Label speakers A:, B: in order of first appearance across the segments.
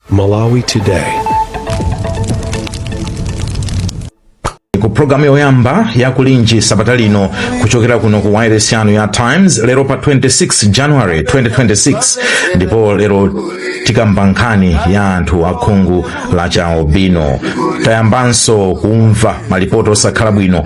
A: Malawi Today.
B: ku programu yoyamba ya kulinji sabata lino kuchokera kuno ku wireless yanu ya times lero pa 26 january 2026 ndipo lero tikamba nkhani ya anthu akhungu lachialubino tayambanso kumva malipoti osakhala bwino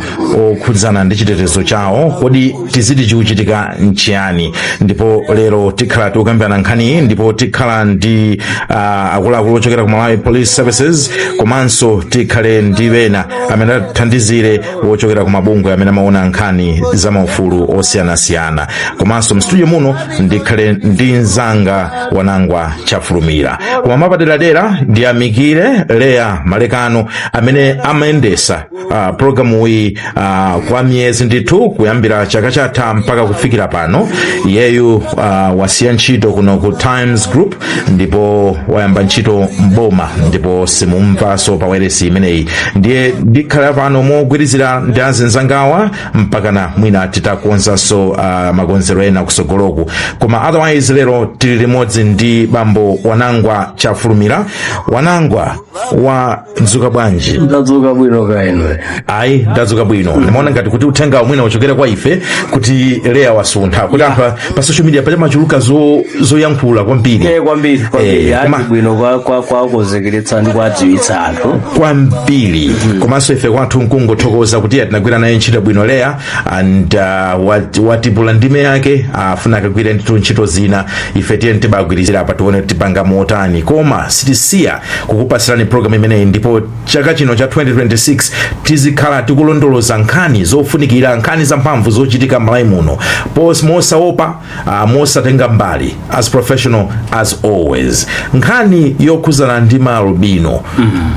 B: okhudzana ndi chitetezo chawo kodi tiziti chikuchitika nchiyani ndipo lero tikhala tikukambirana nkhaniyi ndipo tikhala ndi uh, akuluakulu ochokera ku malawi police services komanso tikhale ndi ena amene athandizire wochokera ku mabungwe amene amaona nkhani za maufulu osiyanasiyana komanso mstudio muno ndikhale ndi mzanga wanangwa chafulumira koma mapaderadera ndiyamikire leya malekano amene amayendesa Uh, programu iyi uh, kwa miyezi ndithu kuyambira chaka chatha mpaka kufikira pano iyeyu uh, wasiya ntchito kuno ku times group ndipo wayamba ntchito mboma ndipo simumvaso pa wailesi imeneyi ndiye ndikhala pano mogwirizira ndi azinzangawa mpakana mwina titakonzanso uh, makonzedwe ena kusogoloku koma otherwise lero tili limodzi ndi bambo wanangwa chafulumira wanangwa wa mwadzuka bwanji ndadzuka
C: bwino kaya inu ayi
B: ndadzuka bwino ndimaona ngati kuti uthenga mwina uchokere kwa ife kuti leya wasuntha kuti anthu a- pa social media pajatu pamachuluka zo- zoyankhula kwambiri Eh, kwambiri kwambiri
C: Eh, koma- ati bwino kwa- kwa- kwakuzekeretsa ndi kwadziwitsa anthu kwambiri
B: komanso ife kwathu nkungothokoza kuti tinagwira naye ntchito bwino leya and uh, wat- watupula ndime yake afuna akagwire ndithu ntchito zina ife tiyeni tibagwirizira apa tione kuti tipanga motani koma sitisiya kukupasirani program imeneyi ndipo chaka chino cha 2026 tizikhala tikulondoloza nkhani zofunikira nkhani zamphamvu zochitika malawi muno pos mosaopa Ah, mosatenga mbali as professional as always nkhani yokhuzana ndi maalubino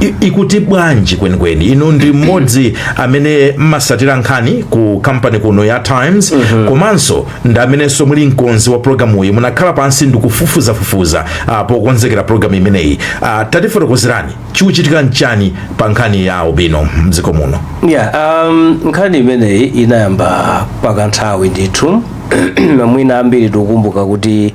B: i- ikuti bwanji kwenikweni inu ndi mmodzi amene mmasatira nkhani ku kampani kuno ya times komanso ndi amenenso muli mkonzi wa programu iyi munakhala pansi ndikufufuzafufuza ah, pokonzekera programu imeneyi Ah, tatifotokozerani chikuchitika nchani pa nkhani ya albino mdziko muno yeah,
C: um, nkhani imeneyi inayamba pakanthawi ndithu mwina ambiri tikumbuka kuti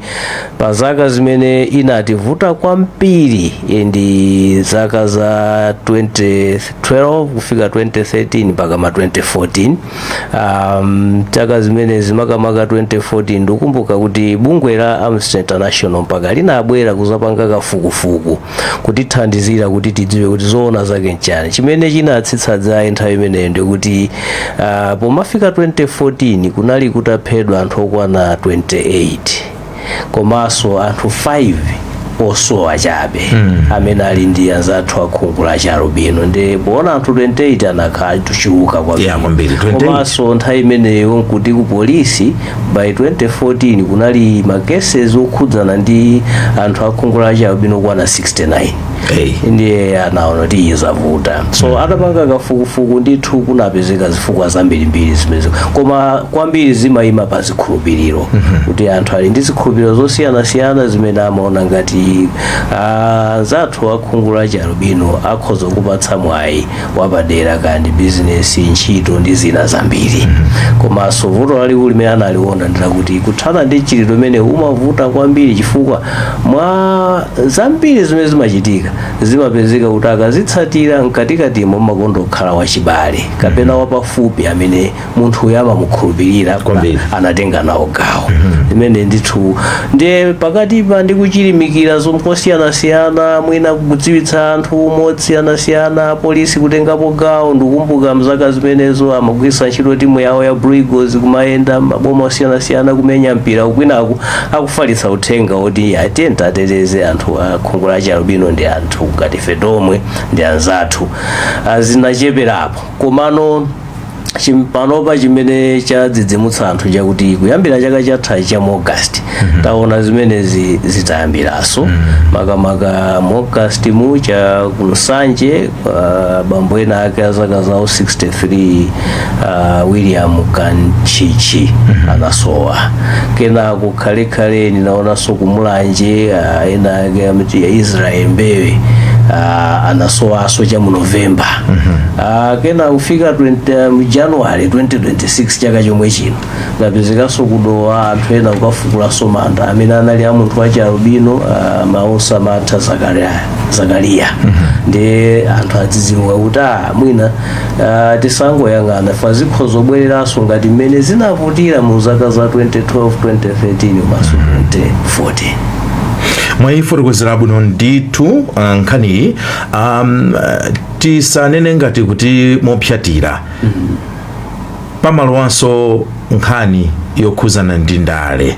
C: pa zaka zimene inativuta kwambiri eh, ndi zaka za 2012 kufika 2013 mpaka ma 2014 um, chaka zimene zimakamaka 2014 ndikumbuka kuti bungwe la amnesty international mpaka linabwera kuzapanga kafukufuku kutithandizira kuti tidziwe kuti zoona zake nchani chimene chinatsitsa dzaye nthawi imeneyo ndikuti uh, pomafika 2014 kunali kutaphedwa anthu okwana 28 komanso anthu 5 osowa chabe mm. amene ali ndi anzathu akhungu la charubino ndi poona anthu 28 anakhala atachuluka Yeah, kwambiri. 28. komanso nthawi imeneyo nkuti ku polisi by 2014 kunali ma cases okhudzana ndi anthu akhungu la chialubino okwana 69 Hey. ndiye anaona kuti izavuta so atapanga kafukufuku ndithu kunapezeka zifukwa zambirimbiri zimenezo koma kwambiri zimayima pa zikhulupiriro kuti anthu ali ndi zikhulupiriro zosiyanasiyana zimene amaona ngati ah, anzathu akhungu la chialubino akhoza kupatsa mwayi wapadera kaya ndi bizinesi ntchito ndi zina zambiri komanso vuto lalikulu limene analiona ndilakuti kuthana ndi mchitidwe umenewu umavuta kwambiri chifukwa mwa zambiri zimene zimachitika zimapezeka kuti akazitsatira mkatikatimo mumakonda kukhala wachibale kapena wapafupi amene munthuyo amamukhulupirira kuti Kwambiri. anatenga nawo gawo imene ndithu ndiye pakatipa ndi kuchilimikira zomwe kosiyanasiyana mwina kudziwitsa anthu mosiyanasiyana polisi kutengapo gawo ndikumbuka mzaka zimenezo amagwiritsa ntchito timu yawo ya Blue Eagles kumayenda maboma osiyanasiyana kumenya mpira kwinaku akufalitsa uthenga woti tiyeni tiwateteze anthu a khungu la chialubino ndi anthu ngati ife tomwe ndi anzathu Ah, zinacheperapo komano chimpanopa chimene chadzidzimutsa anthu chakuti kuyambira chaka chatha cha mu august taona zimenezi zitayambiraso makamaka mu august mu cha ku nsanje ah, bambo ena ake a zaka zawo 63 ah, william kanchichi anasowa kenako khalekhale ndinaonanso ku mulanje ah, ena ake amati israel mbewe ah, anasowanso cha mu novemba Ah, kenako kufika 20, mu january 2026 chaka chomwe chino kunapezekanso ku dowa anthu ena kukafukulanso manda amene anali a munthu wachialubino ah, maosa matha zakariya ndiye anthu adzidzimuka kuti ah, mwina ah, tisangoyang'ana apa zikhoza kubwereranso ngati mmene zinavutira mu zaka za 2012 2013 komanso 2014 mwayifotokozera
B: bwino ndithu ah, nkhaniyi um, ah, tisanene ngati kuti mopsyatira pamalowaso nkhani yokhuzana ndi ndale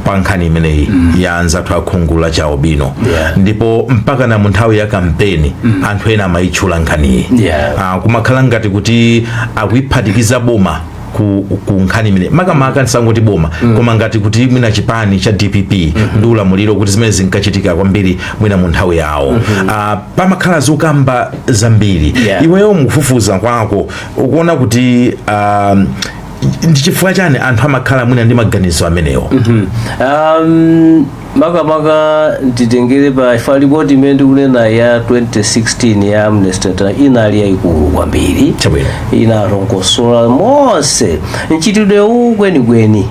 B: pa nkhani imeneyi ya anzathu akhungu la chialubino Yeah. ndipo mpakana mu nthawi ya kampeni anthu ena amayitchula nkhaniyi Yeah. Ah, kumakhala ngati kuti akuyiphatikiza boma ku, ku nkhani imene makamaka ndisangoti boma koma ngati kuti mwina chipani cha dpp ndi ulamuliro kuti zimene zinkachitika kwambiri mwina mu nthawi yawo Ah, pamakhala zokamba zambiri Yeah. iweyo mukufufuza kwako ukuona kuti ah, ndi chifukwa chani anthu amakhala mwina ndi maganizo amenewo um,
C: makamaka nditengere pa ripoti imene ndikunena ya 2016 ya amnesty International inali yayikulu kwambiri Chabwino. inalongosola monse mchitidwe uwu kwenikweni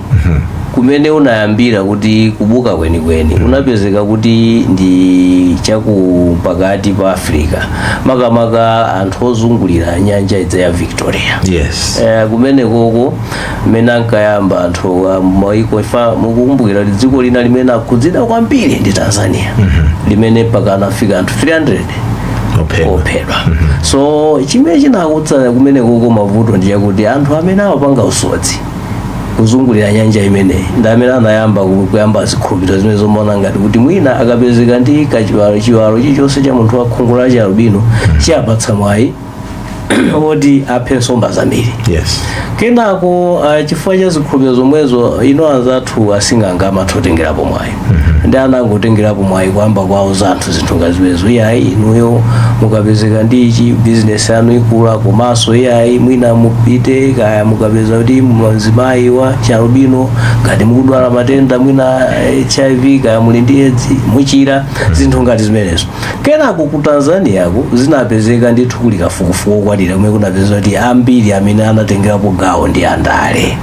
C: kumene unayambira kuti kubuka kwenikweni unapezeka kuti ndi chaku pakati pa africa makamaka anthu ozungulira nyanja ija ya victoria yes Eh, kumenekoko mmene ankayamba anthu a maiko if mukukumbukira kuti dziko lina limene linakhudzidwa kwambiri ndi tanzania limene mpaka anafika anthu 300 Ophedwa. ophedwa so chimene chinakuza kumenekoko mavuto ndi chakuti anthu amene amapanga usodzi kuzungulira nyanja imeneyi ndi amene anayamba ku- kuyamba zikhulupiriro zimenezo zomaona ngati kuti mwina akapezeka ndi kachiwalo chiwalo chilichonse cha munthu wa khungu la chialubino chiwapatsa mwayi oti aphe nsomba zambiri yes kenako uh, chifukwa cha zikhulupiriro zomwezo ino anzathu asing'anga amatengerapo mwayi nde anangotengerapo mwayi kuyamba kuwauza anthu zinthu ngati zimenezo iyayi inuyo mukapezeka ndi ichi bizinesi yanu ikula komanso iyayi mwina mupite kaya mukapeze kuti mzimayi wa chialubino ngati mukudwala matenda mwina hiv kaya muli ndi edzi muchira zinthu ngati zimenezo kenako ku tanzaniako zinapezeka ndithu kuli kafukufuku okwanira kumene kunapezeka kuti ambiri amene anatengerapo gawo ndi andale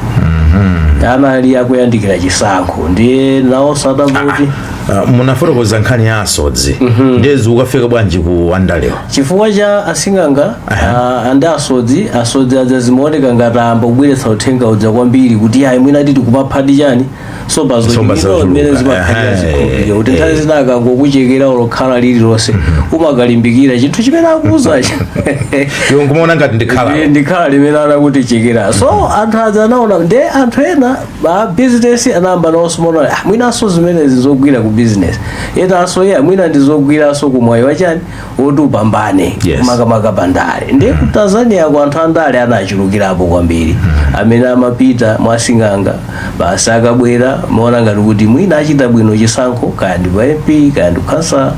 C: anali akuyandikira chisankho ndiye nawo asanati Ah,
B: munafotokoza nkhani ya asodzi ndiye zikukafika bwanji ku andalewa chifukwa
C: cha asing'anga ah, ndi asodzi asodzi aja zimaoneka ngati ayamba kubweretsa uthenga uja kwambiri kuti ayi mwina tikuphadi chani somba Nsomba zochuluka zochuluka. mmene zimakhalira Aha, zikhulupiriro kuti eh, nthawi eh. zina akangokuchekera olo khala lililonse umakalimbikira chinthu chimene akuuzacho iwe
B: nkumaona ngati ndi khala Ndiye ndi khala limene
C: anakuchekera so anthu aja anaona nde anthu ena a business anayamba nawonso kumaona ah, mwinanso zimenezi zigwira ku business enanso ya mwina zigwiranso ku mwayi wachani oti upambane Yes. makamaka pa ndale ndiye ku tanzaniako anthu andale anachulukirapo kwambiri amene amapita mwasing'anga basi akabwera kumaona ngati kuti mwina achita bwino chisankho kaya ndi pa mp kaya ndi khansala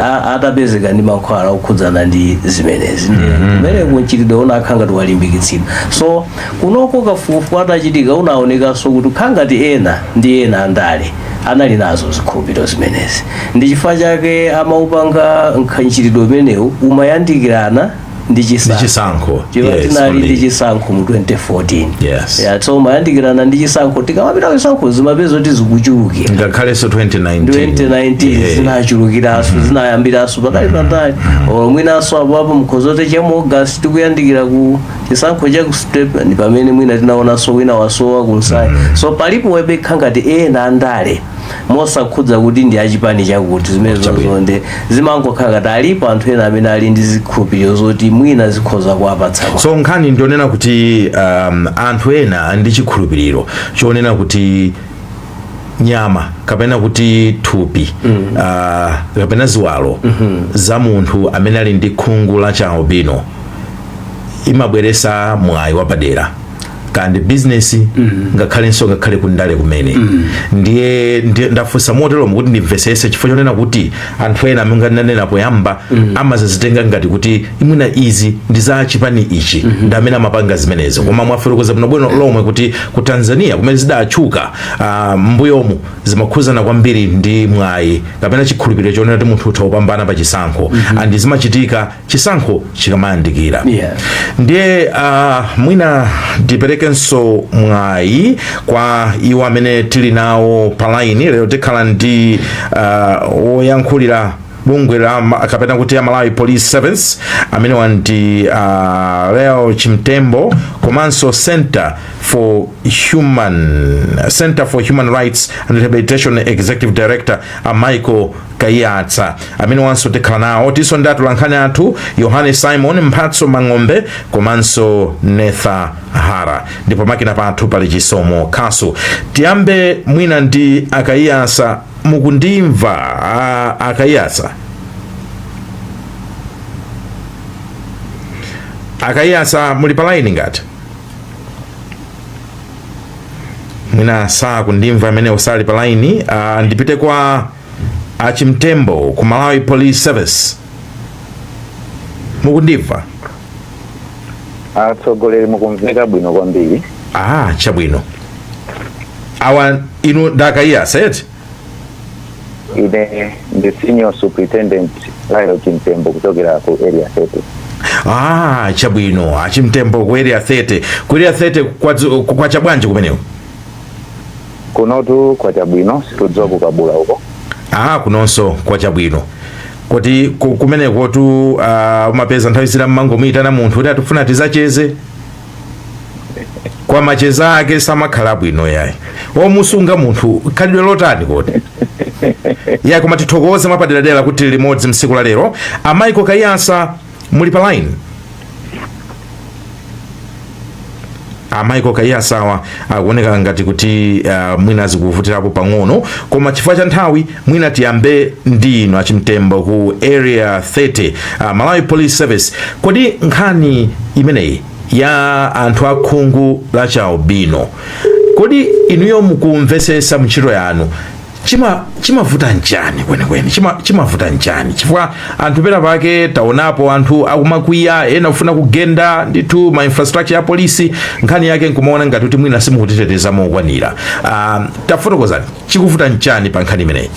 C: a- atapezeka ndi mankhwala okhudzana ndi zimenezi ndiye kumeneko mchitidwe unakhala ngati walimbikitsidwa so kunoko kafukufuku atachitika unaonekanso kuti kukhala ngati ena ndi ena andale anali nazo zikhulupiriro zimenezi ndi chifukwa chake amaupanga mchitidwe umenewu umayandikirana ndi chisankho Ndi chisankho. chifukwa Yes, tinali ndi only. chisankho mu 2014 Yes. Yeah, so umayandikirana ndi chisankho tikamapita ku chisankho zimapeza kuti zikuchulukira ngakhalenso 2019
B: 2019 Yeah.
C: zinachulukiranso zinayambiranso patali patali or mwinanso apoapo mkhozote cha mu august tikuyandikira ku chisankho cha ku step ndi pamene mwina tinaonanso wina wasowa kunsayi so palipo webekha ngati ena andale mosakhudza kuti ndi achipani chakuti zimenezo nde zimangokhala ngati alipo anthu ena amene ali ndi zikhulupiriro zoti mwina zikhoza kuwapatsa mwayi. so nkhani
B: ndionena kuti um, anthu ena ali ndi chikhulupiriro chonena kuti nyama kapena kuti thupi mm. uh, kapena ziwalo mm -hmm. za munthu amene ali ndi khungu la chialubino imabweresa mwayi wapadera kaya ndi bizinesi ngakhalenso ngakhale kundale kumene ndiye ndiye ndafunsa motero kuti ndimvesese chifukwa chonena kuti anthu ena amene ndanena poyamba amazitenga ngati kuti mwina izi ndi za chipani ichi ndi amene amapanga zimenezo koma mwafotokoza bwinobwino lomwe kuti ku tanzania kumene zidatchuka ah, mbuyomu zimakhudzana kwambiri ndi mwayi kapena chikhulupiriro chonena kuti munthu utha kupambana pa chisankho and zimachitika chisankho chikamayandikira yeah. ndiye uh, mwina tiperekenso mwayi kwa iwo amene tili nawo palaini lero tikhala ndi woyankhulira uh, bungwe la kapena kuti a Malawi Police Service amene awa ndi uh, Lael Chimtembo komanso Center for Human Center for Human Rights and Rehabilitation Executive Director uh, Michael kaiyatsa amene awanso tikhala nawo tilinso ndi atolankhani athu yohane simon mphatso mang'ombe komanso netha hara ndipo pamakina pathu pali chisomo kasu tiyambe mwina ndi a kaiyatsa mukundimva a- a kaiyatsa a kaiyatsa muli pa laini ngati mwina sakundimva amenewo sali pa laini uh, ndipite kwa a chimtembo ku malawi police service
A: mukundimva atsogoleri mukumveka bwino kwambiri ah chabwino
B: awa inu ndi a kaiyatsa eti
A: ine ndi senior superintendent lael chimtembo kuchokera ku area 30 ah chabwino
B: a chimtembo ku area 30 ku area 30 kwazu- kwacha bwanji kumeneko
A: kunotu kwacha bwino sitikudziwa ku Kabula uko aha
B: kunonso kwacha bwino kuti ku- kumenekotu ah, umapeza nthawi zina mmangomuyitana munthu kuti tifuna tizacheze kwa machezo ake samakhala abwino yayi omusunga munthu khalidwe lotani kodi ya koma tithokoze mwapaderadera kuti tili limodzi msiku la lero a Michael Kaiyatsa muli pa line a Michael Kaiyatsa awa akuoneka ngati kuti uh, mwina zikuvutirapo pang'ono koma chifukwa cha nthawi mwina tiyambe ndi inu a Chimtembo ku area 30 uh, malawi police service kodi nkhani imeneyi ya anthu akhungu la chialubino kodi inuyo mukumvesesa muntchito yanu chima chimavuta nchani kwenikweni chima chimavuta nchani chifukwa anthu pena pake taonapo anthu akumakwiya ena kufuna kugenda ndithu ma infrastructure ya polisi nkhani yake nkumaona ngati kuti mwina simukutiteteza mokwanira um, tafotokozani chikuvuta nchani pa nkhani imeneyi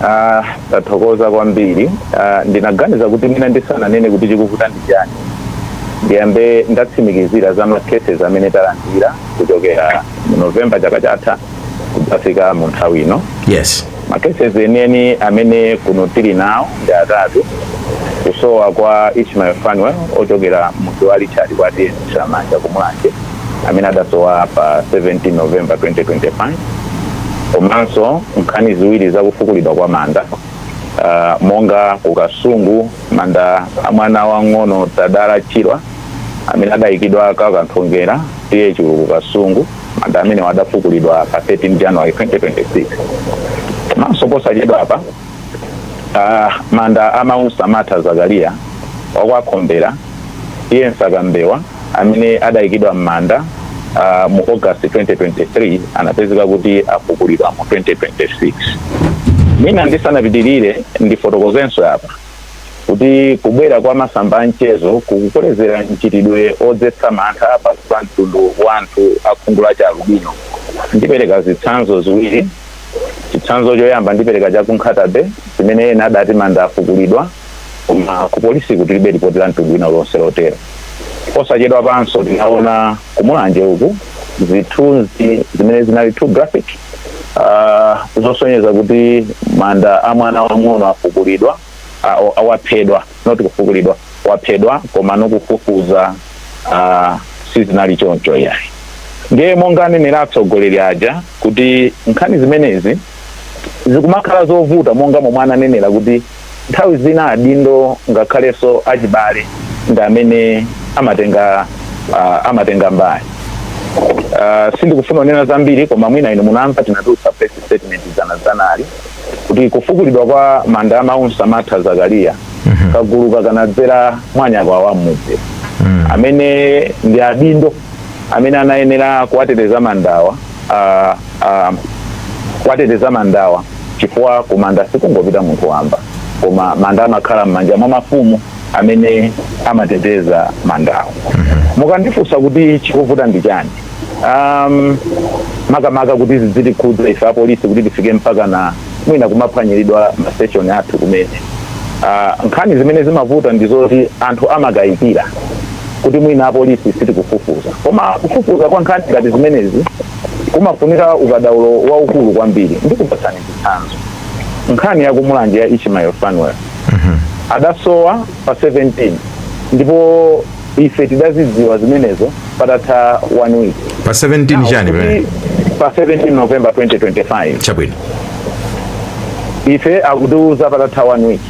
A: Ah, tathokoza kwambiri Ah, ndinaganiza kuti mwina ndisananene kuti chikuvuta ndi chani ndiyambe ndatsimikizira za ma cases amene talandira kuchokera mu november chaka chatha kudzafika mu nthawi ino yes
B: makeses
A: enieni amene kuno tili nawo ndi atatu kusowa kwa ishmael fanuel ochokera mudzi wa richard kwa TA Chilamanja ku Mulanje amene adasowa pa 17 november 2025 komanso nkhani ziwiri zakufukulidwa kwa manda uh, monga ku Kasungu manda a mwana wang'ono tadala chirwa amene adayikidwa kwa Kanthongera TA Chulu ku Kasungu manda amenewa adafukulidwa pa 13 january 2026 komanso posachedwa apa ah, manda a Maunsamatha Zakariya wa kwa Khombera TA Msakambewa amene adayikidwa m'manda ah, mu august 2023 anapezeka kuti afukulidwa mu 2026 mwina ndisanapitirire ndifotokozenso apa kuti kubwera kwa masamba a mchezo kukukolezera mchitidwe odzetsa mantha pakati pa mtundu wa anthu a khungu la chialubino ndipereka zitsanzo ziwiri chitsanzo choyamba ndipereka cha ku Nkhata Bay zimene ena adati manda afukulidwa koma ku polisi kutilibe lipoti la mtundu wina uliwonse lotero posachedwapanso tinaona ku mulanje uku zithunzi zimene zinali too graphic ah, zosonyeza kuti manda a mwana wang'ono afukulidwa ah, o- ah, waphedwa not kufukulidwa waphedwa koma mokufufuza ah, sizinali choncho yayi ndiye monga anenera atsogoleri aja kuti nkhani zimenezi zikumakhala zovuta monga momwe ananenera kuti nthawi zina adindo ngakhalenso achibale ndi amene amatenga uh, amatenga mbali uh, sindikufuna kunena zambiri koma mwina inu munamva tinatulutsa press statement dzanadzanali kuti kufukulidwa kwa manda a maunsamatha zakariya kaguluka kanadzera mwa nyakwawa mmudzi amene ndi adindo amene anayenera kuwateteza mandawa uh, uh, kuwateteza mandawa chifukwa kumanda sikungopita munthu wamba koma manda amakhala m'manja mwa mafumu amene amateteza mandawa mukandifunsa kuti chikuvuta ndi chani um, makamaka kuti zidzitikhudza ife apolisi kuti tifike mpakana mwina kumaphwanyiridwa ma station athu kumene uh, nkhani zimene zimavuta ndi zoti anthu amakayikira kuti mwina apolisi sitikufufuza koma kufufuza kwa nkhani ngati zimenezi kumafunika ukadaulo waukulu kwambiri ndikupatsani chitsanzo nkhani yakumulanje ya ishmael fanuel adasowa pa 17 ndipo ife tidazidziwa zimenezo patatha one week pa 17 chani
B: pamene Kuti pa 17
A: november 2025 chabwino
B: ife
A: akutiuza patatha one week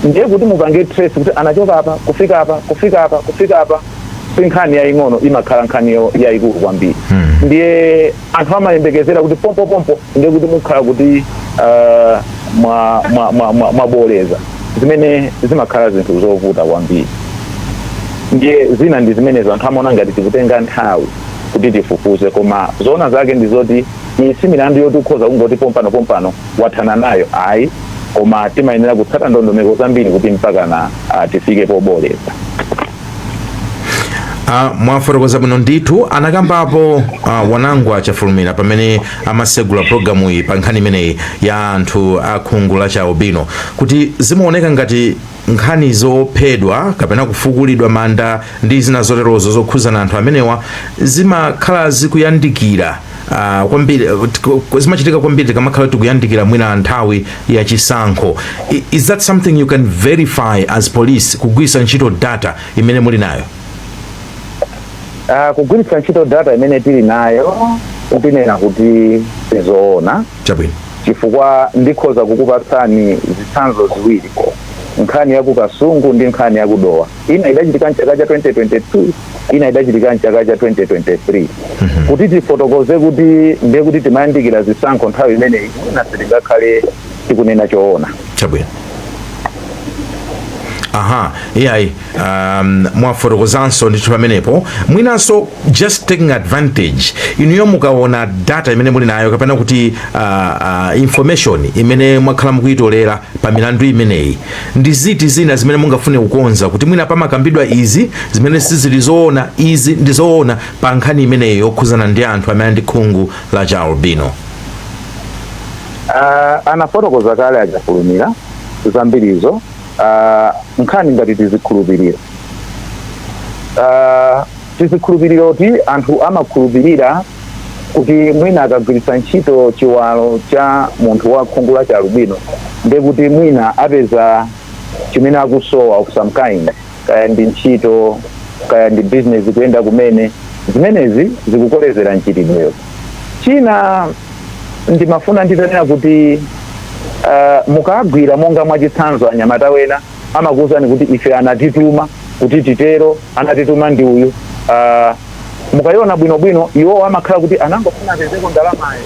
A: ndiye kuti mupange trace kuti anachoka apa kufika apa kufika apa kufika apa si nkhani yaying'ono imakhala nkhani yo- yayikulu kwambiri ndiye anthu amayembekezera kuti pompopompo ndiye kuti mukhala kuti uh, mwabooleza zimene zimakhala zinthu zovuta kwambiri ndiye zina ndi zimenezo anthu amaona ngati tikutenga nthawi kuti tifufuze koma zoona zake ndi zoti iyi si milandu yoti ukhoza kungoti pompano pompano wathana nayo ayi koma timayenera kutsata ndondomeko zambiri kuti mpakana uh, tifike pobooleza
B: Ah, mwafotokoza bwino ndithu anakambapo ah, wanangwa chafulumira pamene amasegula programu iyi pa nkhani imeneyi ya anthu a khungu la chialubino kuti zimaoneka ngati nkhani zophedwa kapena kufukulidwa manda ndi zina zoterozo zokhuzana anthu amenewa zimakhala zikuyandikira Ah, kwambiri eh, tiko- ko- zimachitika kwambiri tikamakhala tikuyandikira mwina nthawi ya chisankho I- is that something you can verify as police kugwiritsa ntchito data imene muli nayo
A: Ah, kugwiritsa ntchito data imene tili nayo tinena kuti si zoona
B: chabwino
A: chifukwa ndikhoza kukupatsani zitsanzo ziwiri nkhani ya ku kasungu ndi nkhani ya kudowa ina idachitika mchaka cha 2022 ina idachitika mchaka cha 2023 kuti tifotokoze kuti ndiye kuti timayandikira zisankho nthawi imeneyi mwina sitingakhale tikunena choona chabwino
B: aha iyayi um, mwafotokozanso ndithu pamenepo mwinanso just taking advantage inuyo mukaona data imene muli nayo kapena kuti uh, uh, information imene mwakhala mukuyitolera pa milandu imeneyi ndi ziti zina zimene mungafune kukonza kuti mwina pamakambidwa izi zimene sizili zoona izi ndi zoona pa nkhani imeneyi yokhuzana ndi anthu amene ndi khungu la chialubino
A: uh, anafotokoza kale a chafulumira zambirizo uh, nkhani ngati tizikhulupiriro uh, tizikhulupiriro kuti anthu amakhulupirira kuti mwina akagwiritsa ntchito chiwalo cha munthu wa khungu la chialubino ndiye kuti mwina apeza chimene akusowa of some kind kaya ndi ntchito kaya ndi business kuyenda kumene zimenezi zikukolezera mchitidwewo china ndimafuna nditanena kuti uh, mukagwira monga mwachitsanzo anyamata wena amakuwuzani kuti ife anatituma kuti titero anatituma ndi uyu uh, mukayiona bwinobwino iwowo amakhala kuti anangofuna apezeko ndalamayo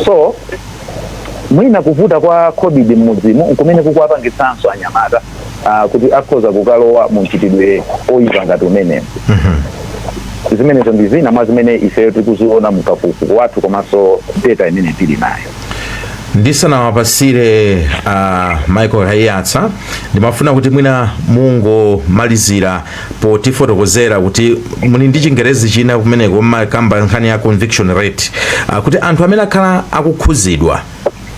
A: so mwina kuvuta kwa khobidi mmudzimu nkumene kukuwapangitsanso anyamata uh, kuti akhoza kukalowa mu mchitidwe oyipa ngati umenewu zimenezo ndi zina mwa zimene ifeyo tikuziona mu kafukufuku wathu komanso data imene tili nayo
B: ndisanawapasire uh, a michael kaiyatsa ndimafuna kuti mwina mungomalizira potifotokozera kuti muli ndi chingerezi china kumeneko mmakamba nkhani ya conviction rate uh, kuti anthu amene akhala akukhuzidwa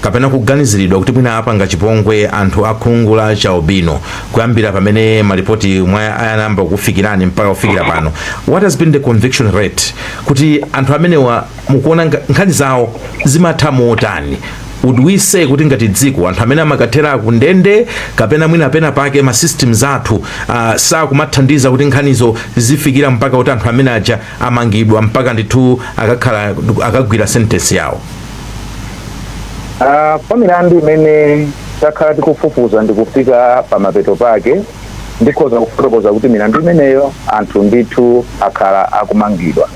B: kapena kuganiziridwa kuti mwina apanga chipongwe anthu akhungu la chialubino kuyambira pamene malipoti omwe ayamba kufikirani mpaka kufikira pano what has been the conviction rate kuti anthu amenewa mukuona nga- nkhani zawo zimatha motani would we say kuti ngati dziko anthu amene amakathera ku ndende kapena mwina pena pake ma systems athu uh, sakumathandiza kuti nkhanizo zifikira mpaka kuti anthu amene aja amangidwa mpaka ndithu akakhala akagwira sentence yawo
A: Ah, pa milandu imene takhala tikufufuza ndikufika pa mapeto pake ndikhoza kufotokoza kuti milandu imeneyo anthu ndithu akhala akumangidwa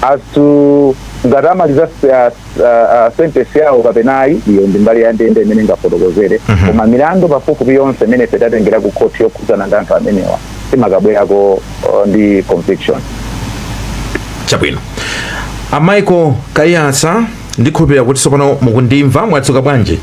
A: as to ngati amaliza uh, uh, sentence yawo kapena ayi iyo ndi mbali ya ndende imene ingafotokozere koma milandu pafupifupi yonse imene ife tatengera ku khoti yokhudzana ndi anthu amenewa timakabwerako uh, ndi
B: conviction chabwino a michael kaiyatsa ndikhulupirira kuti tsopano mukundimva mwadzuka bwanji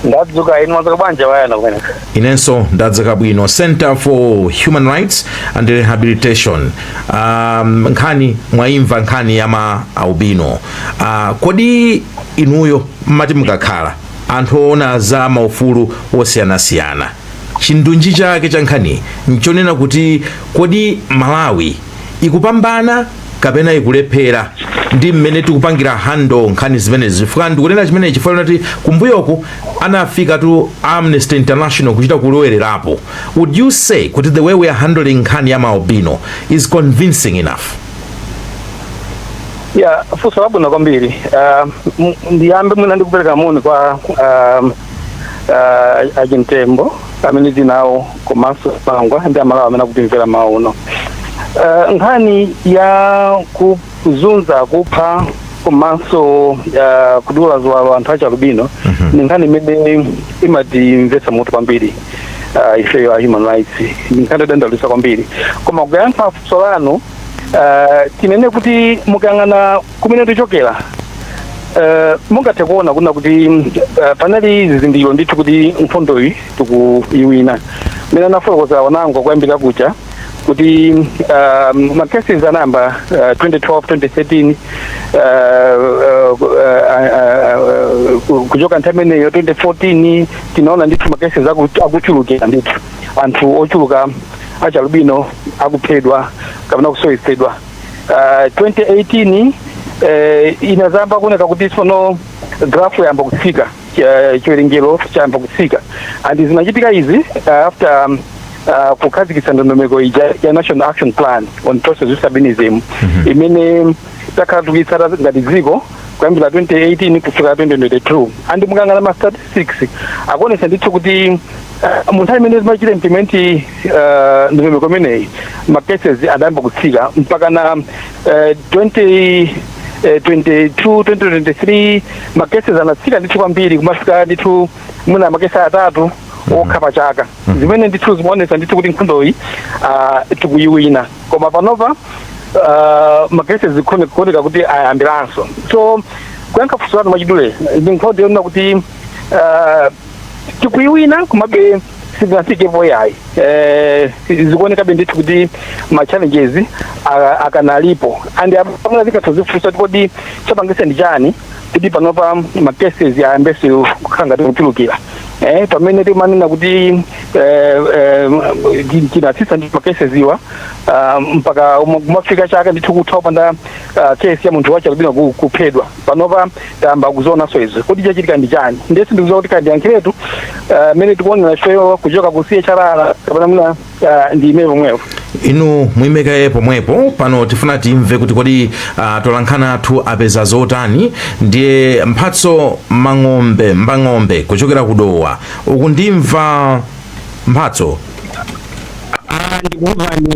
D: ndadzuka inu mwadzuka bwanji wayana kumene inenso
B: ndadzuka bwino center for human rights and rehabilitation um, nkhani mwayimva nkhani ya ma albino uh, kodi inuyo mumati mukakhala anthu oona za maufulu osiyanasiyana chindunji chake cha nkhani nchonena kuti kodi malawi ikupambana kapena ikulephera ndi mmene tikupangira handle nkhani zimenezi chifukwa ndikunena chimenechi chifukwa choti kumbuyoku anafikatu amnesty international kuchita kulowererapo would you say kuti the way we are handling nkhani ya maalbino is convincing
D: enough yeah funso labwino kwambiri Ah, m- ndiyambe mwina ndikupereka moni kwa ah, ah, ajintembo amene tinawo komanso pangwa ndi amalawi amene akutimvetsera mawu uno Eh, nkhani ya kuzunza kupha komanso eh, kudula ziwalo anthu achialubino ndi nkhani imene imatiwawitsa mutu kwambiri eh, ifeyo a human rights ndi nkhani yodandaulitsa kwambiri koma kuyankha funso lanu eh, tinene kuti mukayang'ana kumene tichokera eh, mungathe kuona kunena kuti eh, panali zizindikiro ndithu kuti nkhondoyi tikuiwina mmene anafotokozera anzangawo kuyambira kucha kuti um, macases anayamba uh, 2012 2013 uh, uh, uh, uh, uh, kuchoka nthawi imeneyo 2014 tinaona ndithu macases aku- akuchulukira ndithu anthu ochuluka achialubino akuphedwa kapena kusowetsedwa ah, 2018 eh, inadzayamba kuoneka kuti tsono graph yayamba kutsika eh, chiwerengero chayamba kutsika and zinachitika izi ah, after um, ah, kukhazikitsa ndondomeko ija ya national action plan on persons with albinism imene takhala tikuitsata ngati dziko kuyambira 2018 kufika 2022 and mukayang'ana ma statistics akuonesa ndithu kuti mu nthawi imene timachita implement uh, ndondomeko imeneyi ma cases adayamba kutsika mpakana eh, 20 eh, 22 2023 ma cases anatsika ndithu kwambiri kumafika ndithu mwina makesi atatu okha pa chaka zimene ndithu zimaonesa ndithu kuti nkhondoyi ah, tikuiwina koma panopa ah, makesi zikuoneka kuti ayambiranso so kuyankha funso lanu mwachidule ndi nkhondo yonena kuti ah, tikuiwina komabe sitinafikepo yayi eh, zikuonekabe ndithu kuti ma challenges a- akanalipo and pamene tikadzifunsa kuti kodi chapangitsa ndi chani kuti panopa ma cases ayambenso kukhala ngati kuchulukira eh, pamene timanena kuti eh, eh, ti- tinatsitsa ndi ma cases awa ah, mpaka uma- kumafika chaka ndithu kutha kupanda ah, case ya munthu wachialubino ku- kuphedwa panopa tayamba kuzionanso izo kuti chachitika ndi chani ndiye sindikuziwa kuti kandiyankhiretu ah, mmene tikuonera ifeyo kuchoka ku chrr kapena muna ah, ndi imene pomwepo inu
B: muime kaye pomwepo pano tifuna timve kuti kodi uh, atolankhani athu apeza zotani ndiye mphatso mang'ombe mbang'ombe kuchokera ku dowa ukundimva mphatso Ah, ndikuwuzani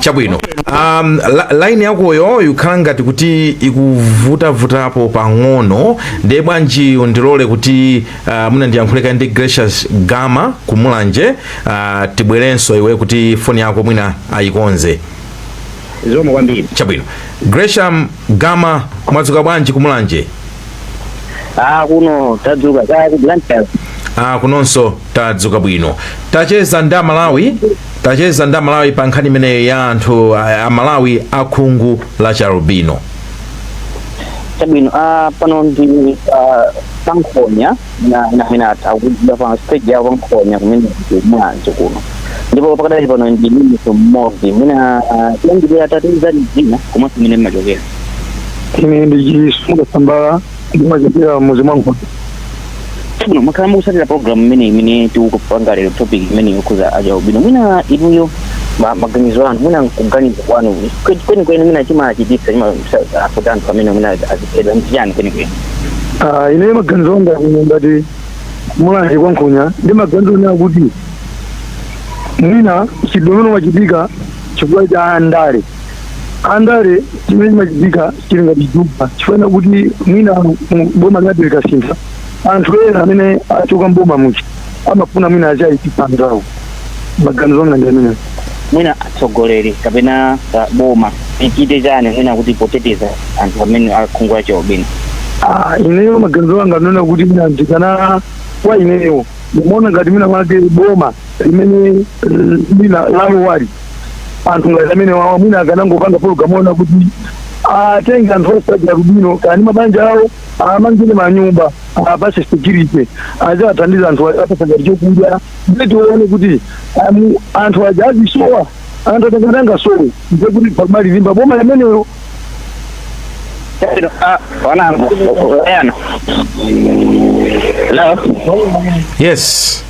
B: chabwino um, la, line yakoyo ikukhala ngati kuti ikuvutavutapo pang'ono ndiye bwanji undilole kuti uh, mwina ndiyankhule kaye ndi gracious gama ku mulanje uh, tibwerenso iwe kuti foni yako mwina
E: ayikonze zikomo kwambiri
B: chabwino gracious gama mwadzuka bwanji ku mulanje ah kuno
E: tadzuka kaya ku blantyre ah kunonso
B: Tadzuka bwino. Tacheza ndi Amalawi tacheza ndi Amalawi pa nkhani imeneyo ya anthu a- Amalawi a khungu la chialubino.
E: chabwino ah, pano ndi ah, pankhonya na na henata akuda pa stage ya pankhonya kumene ku Mulanje kuno ndipo pakadali pano ndi mimiso mmodzi mwina tiyambire atatiuza dzina komanso kumene mmachokera
D: ine ndi Chisunga Sambala ndimachokera muzi mwangu
E: Chabwino, mwakhala mukusatira program imene imene tikupanga lero topic imene yokhudza achialubino mwina inuyo ma- maganizo anu mwina kuganiza kwanu kwe- kwenikweni mwina chimachititsa chimafuta anthu amenewa mwina aziphedwa ndi chiyani kwenikweni Ah,
D: ine maganizo anga kuno ngati mulanje kwa nkhonya ndi maganizo onena kuti mwina mchitidwe umenewu umachitika chifukwa cha andale andale chimene chimachitika chili ngati chitupa chifukwa kuti mwina mu- boma lina likasintha anthu ena amene achoka mboma muja amafuna mwina achaitisa anzawo maganizo anga ndi amenewo mwina atsogoleri
E: kapena ah, boma ichite chani mwina kuti poteteza anthu amenewa akhungu lachialubino Ah,
D: ineyo maganizo anga ndi onena kuti mwina ndikana kwa ineyo ndimaona ngati mwina mwake boma limene eh, mwina lalowali anthu ngati amenewawa mwina akanangopanga pologalamu yonena kuti atenge anthu onse achialubino kani mabanja awo awamangire manyumba awapase security aziwathandiza anthu apasa ngati chokudya ndiye tione kuti amu- anthu aja azisowa anthu aja akangosowa ndiye kuti pamali limba boma limenelo Ah,
E: wanangu, yana. Hello? yes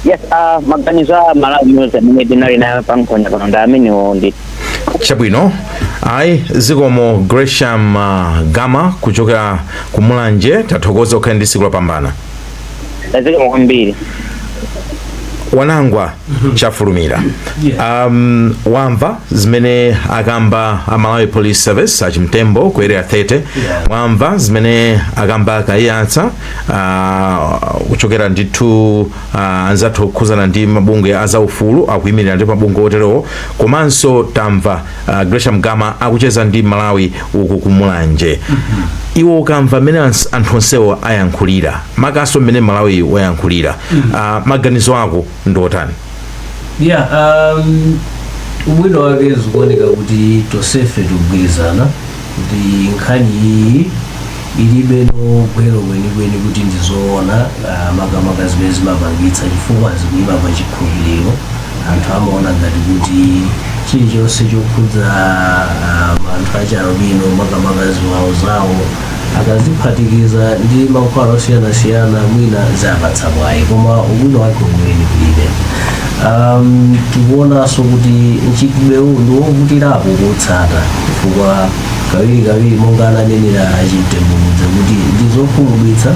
B: yes
E: ah, maganizo a malawi news amene tinali nayo pankhonya pano ndi amenewo
B: chabwino ayi zikomo gresham uh, gama kuchokera ku mulanje tathokoza ukhale ndi siku lopambana
E: zikomo kwambiri
B: wanangwa chafulumira um, wamva zimene akamba a malawi police service achimtembo ku area 30 wamva zimene akamba a kayiyatsa ah, kuchokera ndithu ah, anzathu okhuzana ndi mabungwe a zaufulu akuyimirira ndi mabungwe oterewo komanso tamva ah, gresham gama akucheza ndi malawi uku kumulanje iwe ukamva mmene ans- anthu onsewo ayankhulira makaso mmene mmalawi wayankhulira ah, maganizo ako ndi otani ya
C: um, ubwino wake zikuoneka kuti tosefe tikugwirizana kuti nkhani iyi ilibe no gwero kwenikweni kuti ndizoona ah, makamaka zimene zimapangitsa chifukwa zikuima pa chikhulupiriro anthu amaona ngati kuti chilichonse chokhudza ah, anthu achialubino makamaka ziwalo zawo akaziphatikiza ndi mankhwala osiyanasiyana mwina zawapatsa mwayi koma ubwino wake weniweni kulibe um, tikuonanso kuti mchitidwewu ndi wovutirapo kutsata chifukwa kawirikawiri monga ananenera achimtembo kudza kuti ndi zokhumudwitsa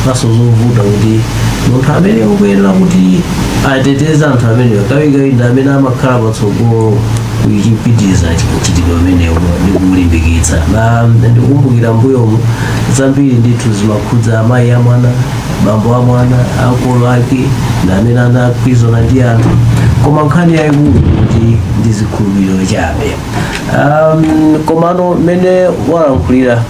C: kaso zovuta kuti munthu amene akuyenera kuti ateteze anthu amenewa kawirikawiri ndi amene amakhala patsogolo kupitiriza mchitidwe umenewu ndi kuwulimbikitsa na ndikukumbukira mbuyomu zambiri ndithu zimakhudza amayi a mwana bambo a mwana makolo ake ndi amene anagwirizana ndi anthu koma nkhani yayikulu kuti ndi zikhulupiriro chabe um, komano mmene walankhulira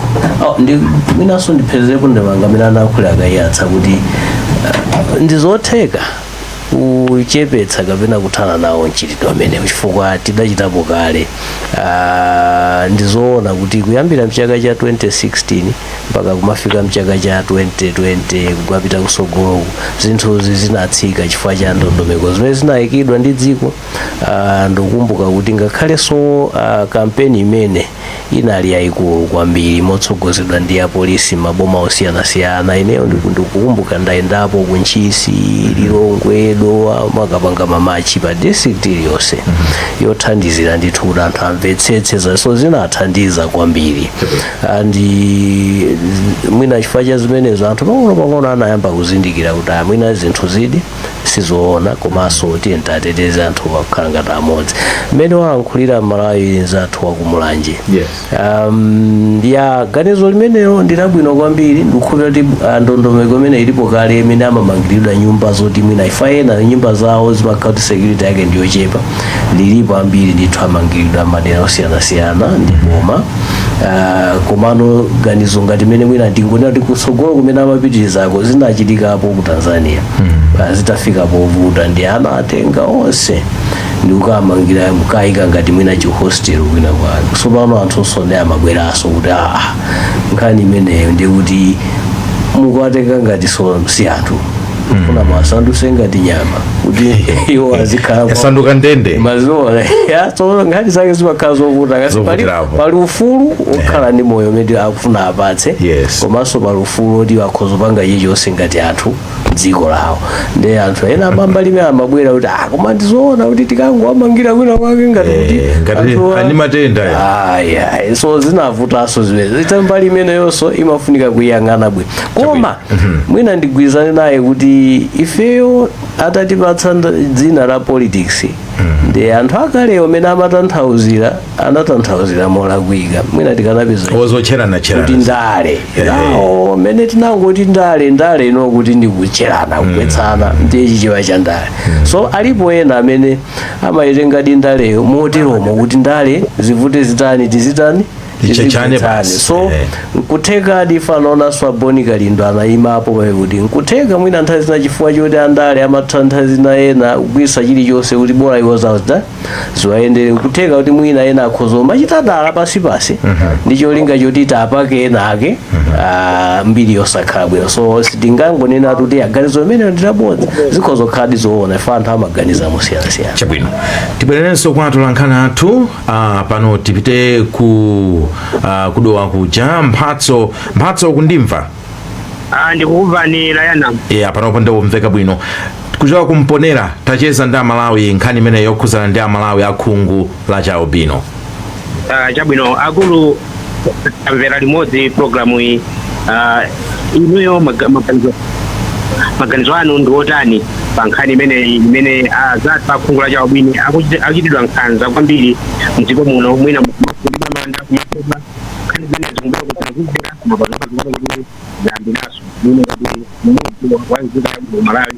C: oh, ndi mwinanso ndiphezerepo ndemanga mmene analankhulira a kayiyatsa kuti uh, ndizotheka kuchepetsa kapena kuthana nawo mchitidwe umenewu chifukwa tidachitapo kale Ah, ndi zoona kuti kuyambira mchaka cha 2016 mpaka kumafika mchaka cha 2020 kumapita kusogoloku zinthuzi zinatsika chifukwa cha ndondomeko zimene zinayikidwa ndi dziko Ah, ndikukumbuka kuti ngakhalenso ah, kampeni imene inali yayikulu kwambiri motsogozedwa ndi apolisi maboma osiyanasiyana ineyo ndiku- ndikukumbuka ndayendapo ku ntchisi lilongwe dowa amakapanga mamachi pa district iliyonse yothandizira ndithu kuti anthu amvetsetse so zinathandiza kwambiri and mwina chifukwa cha zimenezo anthu pang'ono pang'ono anayamba kuzindikira kuti ah mwina zinthuzidi sizoona komanso tiyeni tiwateteze anthu akukhala ngati amodzi mmene walankhulira mmalawi nzathu wakumulanje Yes. um, ya ganizo limenelo ndilabwino kwambiri ndikukhulupirira kuti ah, ndondomeko imene ilipo kale imene amamangiridwa nyumba zoti mwina chifukwa ena nyumba zawo zimakhala kuti security yake ndiyochepa alipo ambiri ndithu amangiridwa mmadera osiyanasiyana ndi boma Ah, komano ganizo ngati mmene mwina ndingonena kuti kutsogolo kumene amapitirizako zinachitikapo ku tanzania Ah, zitafika povuta nde anawatenga onse ndikukawamangira nkukawayika ngati mwina chihostel kwina kwake tsopano anthunso nde amabweranso kuti aa nkhani imeneyo ndikuti mukuwatenga ngatinso si anthu kufuna muwasandutse ngati nyama kuti iwo azikhala yasanduka
B: ndende
C: mazuwa so nkhani zake zimakhala zovuta kasi pali, Zovutirapo. pali ufulu okhala ndi moyo umene akufuna apatse Yes. komanso pali ufulu oti akhoza kupanga chilichonse ngati anthu dziko lawo ndi anthu ena a mbali imene amabwera kuti ah koma ndizoona kuti tikangowamangira kwina kwake ngati Eh, kuti ngati anthuwa- ali
B: ndi matenda ya. aya so
C: zinavutanso zimene kuti mbali imeneyonso imafunika kuyang'ana bwino koma mwina ndigwirizane naye kuti ifeyo atatipatsa nd- dzina la politics ndi anthu akalewo amene amatanthauzira anatanthauzira molakwika mwina tikanapeza kuti zotcheranatcherana ndale Ehe. nawo mmene tinangoti ndale ndale ino kuti ndikutcherana kugwetsana ndiye chichewa cha ndale so alipo ena amene amayitengadi ndaleyo moteromo kuti ndale zivute zitani tizitani Icho chane Tizimvetsane. basi. so Eh. nkuthekadi chifukwa anaonanso a bon kalindo anayima apo pamene kuti nkutheka mwina nthawi zina chifukwa choti andale amatha nthawi zina ena kugwiritsa chilichonse kuti bola iwo zawo ziwayendere nkutheka kuti mwina ena akhoza kumachita dala pansipansi ndi cholinga choti tapake ena ake ah, mbiri yosakhala bwino so sitingangonena kuti aa ganizo limeneli ndilabodza zikhoza kukhaladi zoona ife anthu amaganiza mosiyanasiyana chabwino
B: tibwererenso kwa atolankhani athu Ah, pano tipite ku ah, kudowa kuja mphatso mphatso mukundimva Ah,
F: ndikukumvani layana yeah, panopo
B: ndikumveka bwino kuchoka kumponela tacheza ndi amalawi nkhani imene yokhudzana ndi amalawi akhungu la chialubino Ah,
F: chabwino akulu amvera limodzi programu iyi Ah, inuyo maga- maganizo maganizo anu ndi otani pa nkhani imeneyi imene azathu akhungu la chialubino akuchiti- akuchitidwa nkhanza kwambiri mdziko muno mwina kukumba manda kuba mafupa nkhani zimene zikumbira kutanzizira mapazamazimene kuti zayambiranso mwina kuti mmodzi wa nzika ya malawi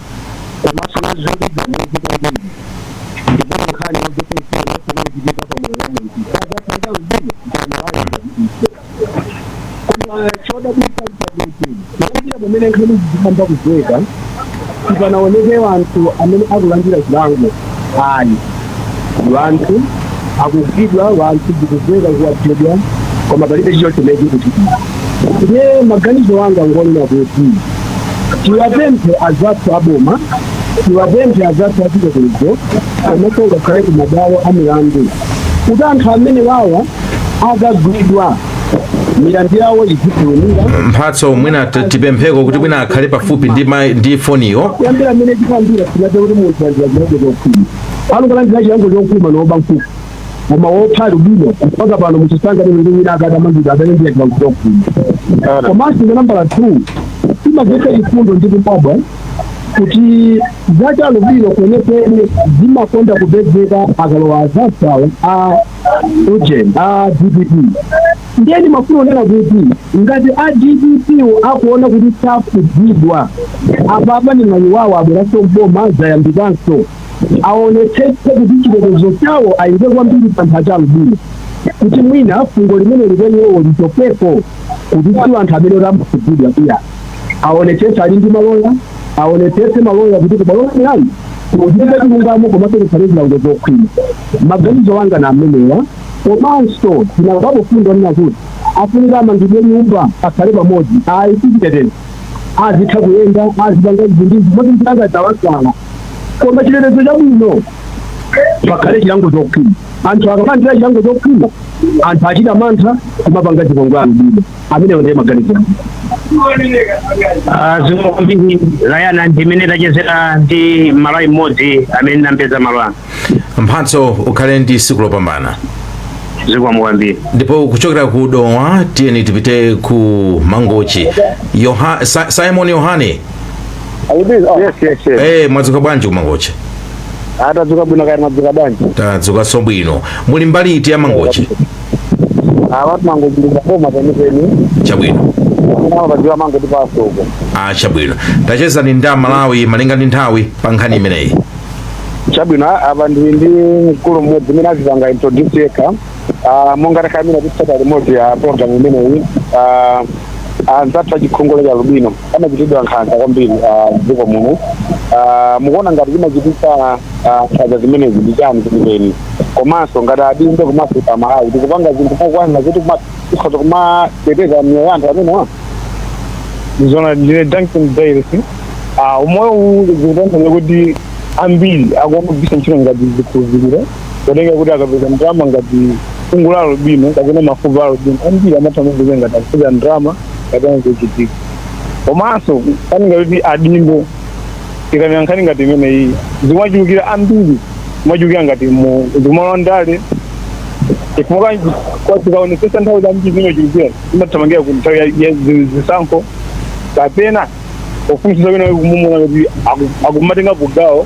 F: komanso zokhudza mwezi
D: kwambiri ndipo nkhani yokutetera kumachitika pa moyo wa munthu sazapanga mzimu koma ayiife koma chodabwitsa nchakuti kuyambira pamene nkhanizi zinayamba kumveka sipanaoneke wanthu amene akulandira zilango ayi wanthu akugwidwa wanthu zikumveka kuti aphedwa koma palibe chilichonse chimene chikuchitika ndiye maganizo anga ngonena kuti tiwapemphe azathu aboma tiwapemphe azathu achitetezo komanso ngakhale ku mabwalo a milandu kuti anthu amene wawa akagwidwa milandu yawo izifulumira mphatso
B: mwina t- tipempheko kuti mwina akhale pafupi ndi, ma- ndi foniyo kuyambira amene tikambira
D: tinaza kuti munthu walandira chilango chokhwima anthu olandira chilango chokhwima ngoba nkhuku koma wopha alubino mpaka pano muchisanga lero ndi wina akati amangidwa amene ndiye kulankhula kuno komanso za nambala two zimamvetsa chifundo ndikumadabwa kuti za chialubino kwenikweni zimakonda kupezeka akalowa azathuwo a ujeni a dpp ndiye ndimafuna kunena kuti ngati a dpp wo akuona kuti sakhudzidwa apapa ndi mwayi wawo abweranso mboma zayambikanso aonetsetse kuti chitetezo chawo ayike kwambiri pa anthu achialubino kuti mwina fungo limeneli kwa iwowo lichokepo kuti si anthu amene amakhudzidwa iya aonetsetse ali ndi maloya aonetsetse maloya kuti ku bwalo la milandu kuchitike chilungamo komanso kukhale zilango zokhwima maganizo anga na amenewa komanso tinamvapo mfundo ina kuti afunika amangidwe nyumba akhale pamodzi ayi sichitetezo azitha kuyenda azipanga izi ndi izi moti mupanga zowasala koma chitetezo chabwino pakhale chilango chokhwima anthu akalandira chilango chokhwima anthu achita mantha kumapanga zipongwe amdima amenewo ndiye maganizo
F: zikomo kwambiri layana ndimene tachezera ndi mmalawi mmodzi amene nampeza malo ano
B: mphatso ukhale ndi tsiku lopambana zikomo
F: kwambiri ndipo kuchokera ku
B: dowa tiyeni tipite ku mangochi Yoha, Sa, simon yohane
D: Eh, mwadzuka bwanji ku
B: mangochi a
D: tadzuka bwino kaya mwadzuka bwanji tadzukanso bwino
B: muli mbali iti ya mangochi
D: awatu mangochi ndi pa boma penipeni
B: chabwino awo
D: padziwa mango tipaso uko ah
B: chabwino tachezani ndi amalawi malinga ndi nthawi pa nkhani imeneyi
D: chabwino apa ndili ndi mkulu mmodzi amene azipanga introduce yekha ah, monga takambira kutsata limodzi ya programu imeneyi ah, anzathu achikhungu cha lubino amachitidwa nkhanza kwambiri ah, m'dziko muno Ah, mukuona ngati zimachititsa ah, nkhanza zimenezi ndi chani chimenechi komanso ngati adindo komanso amalawi tikupanga zinthu zokwanira kuti kuma- tikhoza kumateteza miyoyo ya anthu
G: amenewa ndizona ndine duncan dailes umoyo uwu zikutanthauza kuti ambiri akumawagwiritsa ntchito ngati zikhulupiriro kutenga kuti akapeza ndalama ngati khungu la albino kapena mafupa a albino ambiri amatha kupeza ngati akupeza ndalama kapena zochitika komanso kani ngati adindo ikanena nkhani ngati imeneyi zimachulukira ambiri zimachulukira ngati muzimalondale chifukwa tikaonetsetsa nthawi zambiri zimachulukira zimathamangira ku nthawi ya- ya zi- zisankho kapena ufunsitsa bwino ukuona kuti aku- akumatenga kugawo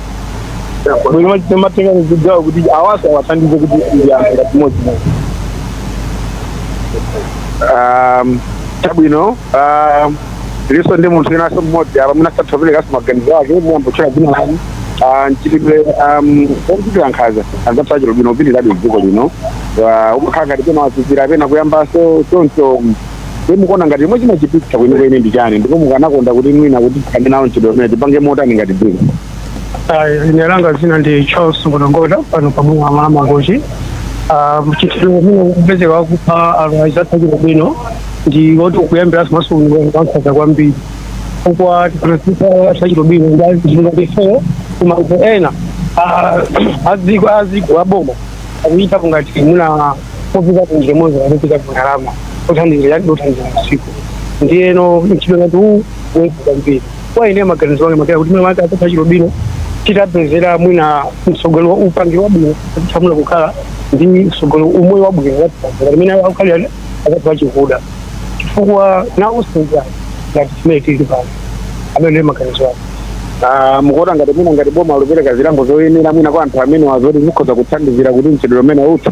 G: bwino timatenga zigawo kuti awanso awathandize kuti ndi anthu ngati modzi modzi
D: um, chabwino um, tilinso ndi munthu winanso mmodzi apa mwina angathe kuperekanso maganizo ake muyambe kutchula dzina lani Ah, mchitidwe um, omchitira nkhanza anzathu achilobino ukupitirirabe mdziko lino Ah, umakhala ngati pena wazizira pena kuyambanso choncho ndiye mukuona ngati chomwe chimachititsa kwenikweni ndi chani ndipo mukanakonda kuti mwina kuti tithane nawo mchitidwe umene tipange motani ngati dziko Ayi,
H: ine langa dzina ndi charles ngodangoda pano pompano pa mangochi Ah, mchitidwe umene ukupezeka wakupha anthu anzathu achilubino ndi woti ukuyambiranso nkhanza kwambiri chifukwa tikaonetsetsa achilubino ndi anzathu ngati ifeyo kumayiko ena ah, aziko aziko aboma akuchitapo ngati muna popeza kuti njira imodzi yopezera ndalama zothandizira yadi othandizira masiku ndiyeno mchitidwe ngati uwu woipa kwambiri kwa ine maganizo ake makera kuti mwina anzathu achilubino titawapezera mwina mtsogolo wa upangiri wabwino atithamuna kukhala ndi mtsogolo umoyo wabwino ngati mmene akukhalira anthu achikuda chifukwa nawonso ndi anthu ngati chimene tili pano amene ndiye maganizo ake Ah,
D: mukuona ngati mwina ngati boma likupereka zilango zoyenera mwina kwa anthu amenewa zoti zikhoza kuthandizira kuti mchitidwe umene uthe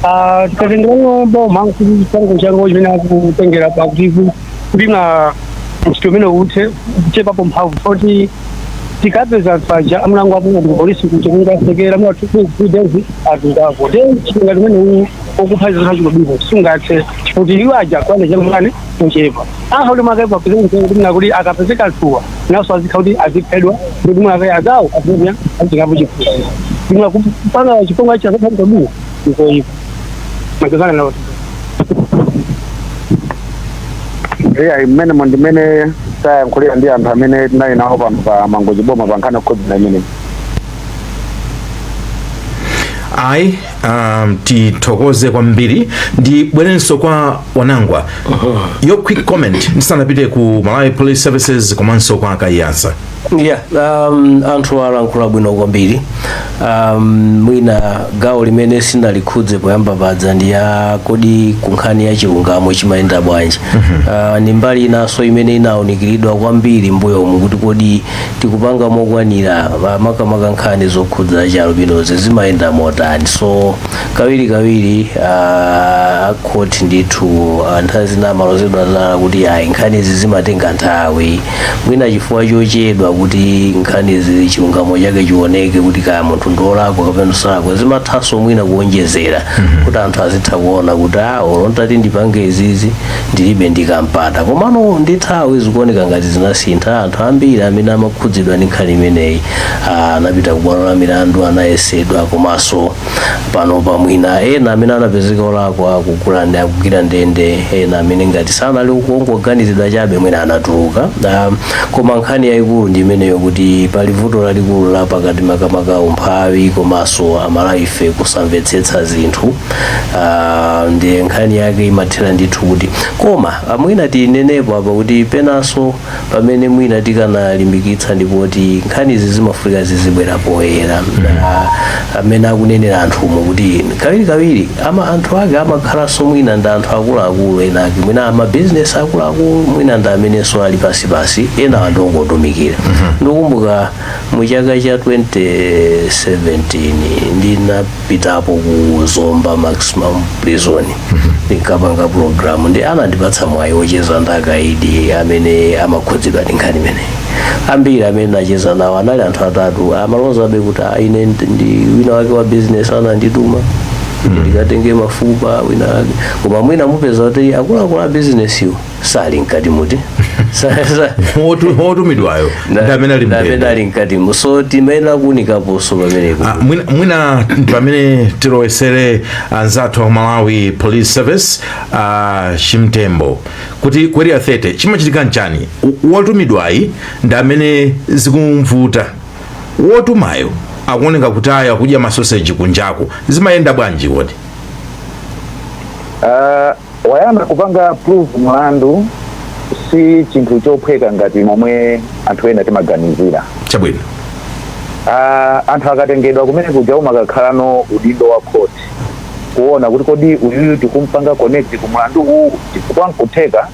D: Ah, tikatengera
H: boma kuti chilango chango chimene akutengera pakuti kuti mchitidwe umene uthe chikuchepapo mphamvu poti tikapeza anthu aja amlango apunga ndi polisi kuti kungowatsekera mwa two three days azingako then mchitidwe umene uwu wakupha anzathu achilubino sungathe kuti iwo aja kwane changulane nchepa akha kuti mwakaye papeze munthu kuti mwina kuti akapeze kanthuwa nawonso azikhala kuti aziphedwa ndikuti mwakaye azawo azikuya azikapo chifuwa ndimwa kupanga chifunga cha anzake achilubino nkoyipa magazana nawo
D: eya mmenemo ndi mmene tayankhulira ndi anthu amene tinali nawo pano pa mangochi boma pa nkhani yokhudza imeneyi
B: ayi um, tithokoze kwambiri ndibwerenso kwa wanangwa your quick comment ndisanapite ku malawi police services komanso kwa Kaiyatsa yeah um,
C: anthu alankhula bwino kwambiri um, mwina gawo limene sinalikhudze poyamba paja ndi ya kodi kunkhani ya chilungamo chimayenda bwanji uh, ndi mbali inanso imene inaunikiridwa kwambiri mbuyomu kuti kodi tikupanga mokwanira ma- makamaka nkhani zokhudza chialubinozi zimayenda motani so kawirikawiri ah, akhoti ndithu ah, nthawi zina amalozedwa zala kuti ayi nkhanizi zimatenga nthawi mwina chifukwa chochedwa kuti nkhanizi chilungamo chake chioneke kuti kaya munthu ndiolakwa kapena osalakwa zimathanso mwina kuonjezera kuti anthu azitha kuona kuti a olo nditati ndipange izizi ndilibe ndikampata komano ndi nthawi zikuoneka ngati zinasintha anthu ambiri amene amakhudzidwa ndi nkhani imeneyi ah, anapita ku bwalo la milandu anazengedwa komanso panopa mwina ena amene anapezeka olakwa akugwira ndi akugwira ndende ena amene ngati sanali kungoganizidwa chabe mwina anatuluka Ah, koma nkhani yayikulu ndi imeneyo kuti pali vuto lalikulu la pakati makamaka umphawi komanso amalawife kusamvetsetsa zinthu Ah, ndiye nkhani yake imathera ndithu kuti koma ah, mwina tinenepo apa kuti penanso pamene mwina tikanalimbikitsa ndipoti nkhani izi zimafunika zizibwera poyera Ah, amene akunenera anthumo kuti kawirikawiri ama anthu ake amakhalanso mwina ndi anthu akuluakulu ena ake mwina amabizinesi akuluakulu mwina ndi amenenso ali pansipansi ena angotumikira ndikukumbuka mu chaka cha 2017 ndinapitapo ku zomba maximum prison ndinkapanga programu ndi anandipatsa mwayi wocheza ndi akaidi amene amakhudzidwa ndi nkhani imeneyi ambiri amene ndinacheza nawo anali anthu atatu amalozabe kuti "Ah, ine ndi- ndi wina wake wa business anandituma ndikatenge mafupa wina wake koma mwina mupeza kuti akuluakulu a business wo sali mkatimu ti Sa- sa-
B: Wotu- wotumidwayo ndi amene ali na- na amene mndende ali mkatimu
C: so timayenera kuunikaponso pamenepo Ah, mwina- mwina
B: pamene tilowetsere anzathu a malawi police service a chimtembo kuti ku area 30 chimachitika nchani W- wotumidwayi ndi amene zikumvuta wotumayo akuoneka kuti ayo akudya masoseji kunjaku zimayenda bwanji kodi Ah,
A: poyamba kupanga prove mlandu si chinthu chophweka ngati momwe anthu ena timaganizira chabwino
B: Ah,
A: anthu akatengedwa kumene kuja umakakhalano udindo wa khoti kuona kuti kodi uyuyu tikumpanga connect ku mlandu uwu chifukwa nkutheka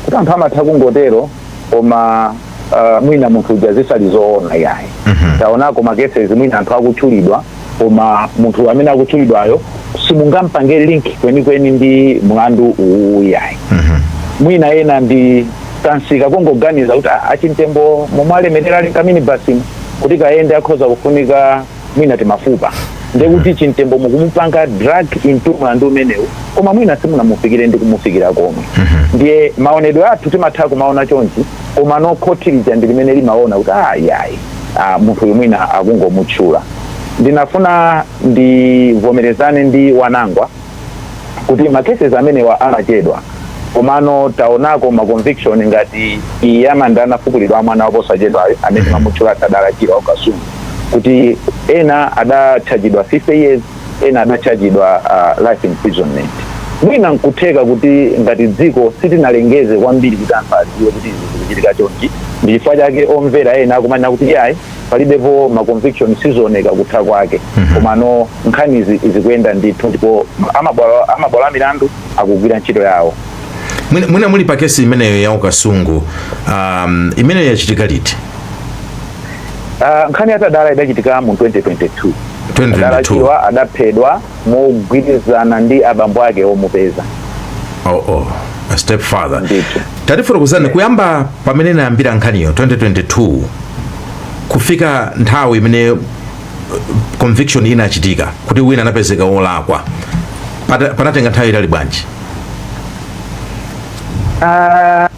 A: kuti anthu amatha kungotero koma uh, mwina munthu uja zisali zoona yayi mm -hmm. taonako makesezi mwina anthu akutchulidwa koma munthu amene akutchulidwayo simungampange link kwenikweni ndi mlandu uwu yayi mm -hmm. mwina ena ndi kansika kungoganiza kuti achimtembo momwe alemerera ali kamini basimo kuti kayende akhoza kufunika mwina timafupa ndiye kuti chimtembo mukumupanga drag into mlandu umenewu koma mwina simunamufikire ndi kumufikira komwe ndiye maonedwe athu timatha kumaona chonchi komano khoti lija ndi limene limaona kuti ayayi munthu uyu mwina akungomutchula ndinafuna ndivomerezane ndi wanangwa kuti ma cases amenewa amachedwa komano taonako ma conviction ngati iyi ya manda anafukulidwa ya mwana waposachedwayo amene mamutchula Tadala Chirwa wa ku Kasungu kuti ena adatchajidwa 50 years ena adatchajidwa uh, life imprisonment mwina nkutheka kuti ngati dziko sitinalengeze kwambiri kuti anthu adziwe kuti izi zikuchitika chonchi ndi chifukwa chake omvera ena akumanena kuti yayi palibepo ma conviction sizioneka kutha kwake mhm. komano nkhani zikuyenda ndithu ndipo amabwalo a milandu akugwira ntchito yawo mwina
B: muli pa kesi imeneyo ya ku Kasungu um, imeneyo yachitika liti uh,
A: nkhani ya Tadala idachitika mu 2022 Tadala Chirwa adaphedwa mogwirizana ndi abambo ake omupeza oh,
B: oh. A step father tatifotokozerani kuyamba pamene inayambira nkhaniyo 2022 kufika nthawi imene uh, conviction inachitika kuti wina anapezeka wolakwa panatenga nthawi yaitali bwanji uh,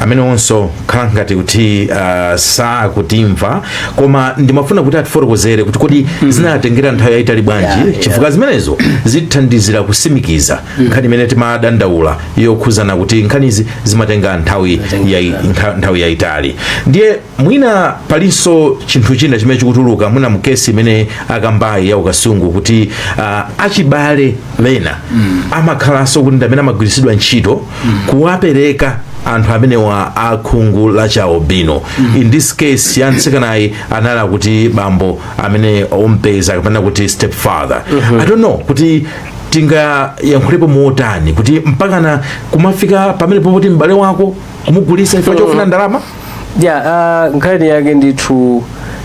B: amenewonso akhala ngati kuti uh, sakutimva koma ndimafuna kuti atifotokozere kuti kodi zinatengera nthawi yayitali bwanji Yeah, yeah. chifukwa zimenezo zithandizira kutsimikiza nkhani imene timadandaula yokhuzana kuti nkhanizi zimatenga nthawi yayi- ntha- nthawi yayitali ndiye mwina palinso chinthu china chimene chikutuluka mwina mukesi imene akambayi ya ku Kasungu kuti uh, achibale ena mm. amakhalanso kuti ndamene amagwiritsidwa ntchito mm. kuwapereka anthu amenewa akhungu la chialubino mm. in this case ya mtsikanayi anali akuti bambo ameneyo ompeza kapena kuti step father mm -hmm. i don't know kuti tingayankhulepo motani kuti mpakana kumafika pamenepo poti m'bale wako kumugulitsa chifukwa chofuna ndalama ya
C: uh, nkhani yake ndithu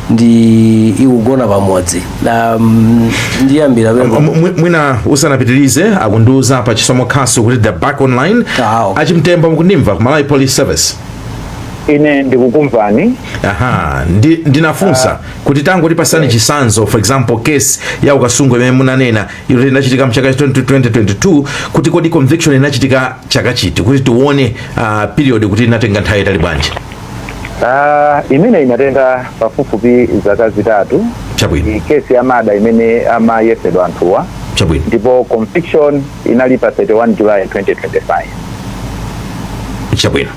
C: ndi ikugona pamodzi um, ndiyambira pembe M- mwi- mwina
B: usanapitirize akundiuza apa a Chisomo Khasu kuti they're back online Awo. achimtembo mukundimva ku malawi police service
A: ine ndikukumvani aha ndi, ndinafunsa
B: kuti tangotipatsani chitsanzo for example case ya ku Kasungu imene munanena ilo linachitika mchaka cha 2022 kuti kodi conviction inachitika chaka chiti kuti tione uh, period kuti inatenga nthawi yaitali bwanji Ah, imene
A: inatenga pafupifupi zaka zitatu chabwino ndi
B: kesi ya murder
A: imene amaphedwa anthuwa chabwino
B: ndipo conviction
A: inali pa 31 july 2025
B: chabwino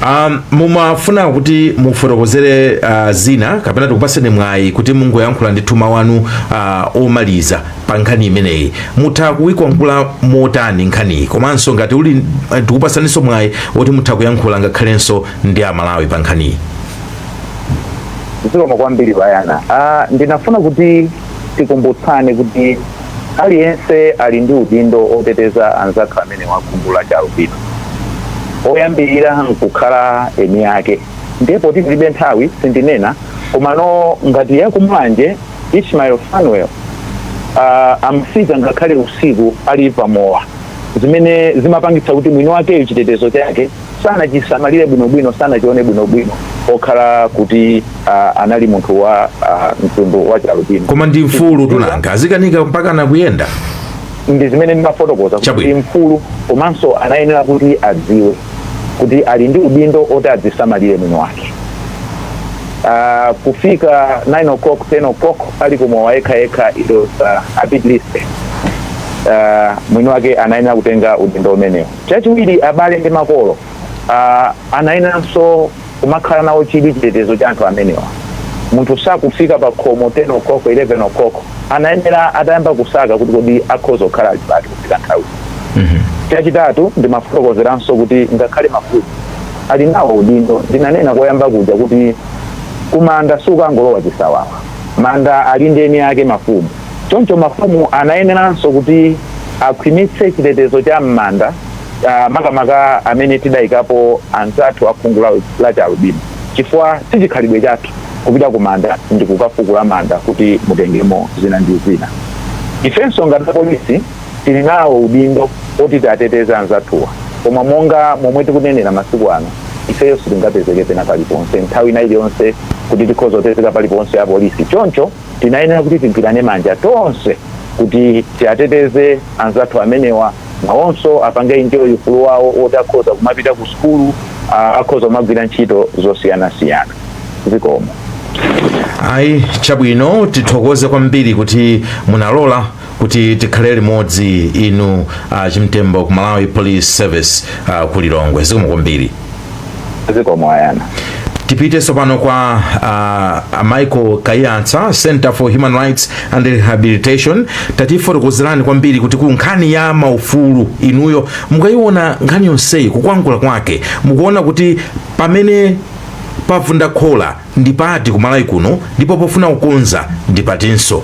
B: Um, mumafuna kuti mufotokozere uh, zina kapena tikupaseni mwayi kuti mungoyankhula ndithu mawu wanu uh, omaliza pa nkhani imeneyi mutha kuyilankhula motani nkhaniyi komanso ngati uli uh, tikupasaninso mwayi woti mutha kuyankhula ngakhalenso ndi amalawi pa
A: nkhaniyi zikomo kwambiri bwana uh, ndinafuna kuti tikumbutsane kuti Aliyense ali ndi udindo oteteza anzathu amenewa akhungu la chialubino. Oyambirira nkukhala eni ake. Ndiye poti tilibe nthawi sindinena komano ngati ya kumulanje Ishmael Fanuel uh, amafika ngakhale usiku ali pamowa zimene zimapangitsa kuti mwini wakeyo chitetezo chake sanachisamalire bwinobwino sanachione bwinobwino pokhala kuti uh, anali munthu wa uh, khungu la chialubino koma ndi mfulu
B: tu nanga azikakanika mpaka nakuyenda ndi zimene
A: ndimafotokoza kuti Chabwino. mfulu komanso anayenera kuti adziwe kuti ali ndi udindo oti adzisamalire mwini wake Ah, kufika 9 o'clock 10 o'clock ali kumowa yekha yekha it was uh, a bit risky uh, mwini wake anayenera kutenga udindo umenewo Chachiwiri, abale ndi makolo a anayeneranso kumakhala nawo chidwi chitetezo cha anthu amenewa. Munthu sakufika pakhomo 10 oclock, 11 oclock, anayenera atayamba kusaka kuti kodi akhoza kukhala ali pati kufika nthawiyi. Chachitatu, ndimafotokozeranso kuti ngakhale mafumu ali nawo udindo. Ndinanena koyamba kuja kuti kumanda sukangolowa chisawawa. Manda ali ndi eni ake, mafumu. Choncho mafumu anayeneranso kuti akhwimitse chitetezo cha m'manda ah, makamaka amene tidaikapo anzathu akhungu la, la chialubino chifukwa si chikhalidwe chathu kupita ku manda ndi kukafukula manda kuti mutengemo zina ndi zina ifenso ngati apolisi tili nawo udindo oti tiateteze anzathuwa koma monga momwe tikunenera masiku ano ifeyo sitingapezeke pena paliponse nthawi ina iliyonse kuti tikhoza kupezeka paliponse apolisi choncho tinayenera kuti tigwirane manja tonse kuti tiateteze anzathu amenewa nawonso apange enjoy ufulu wawo woti akhoza kumapita ku sukulu ah, akhoza kumagwira ntchito zosiyanasiyana zikomo
B: ayi chabwino tithokoze kwambiri kuti munalola kuti tikhale limodzi inu a chimtembo ku malawi police service uh, ku lilongwe zikomo kwambiri zikomo
A: ayana tipite tsopano
B: kwa uh, a michael kaiyatsa center for human rights and rehabilitation tatifotokozerani kwambiri kuti ku nkhani ya maufulu inuyo mukayiona nkhani yonseyi kukwangula kwake mukuona kuti pamene pavunda khola ndipati kumalawi kuno ndipo pofuna kukonza ndipatinso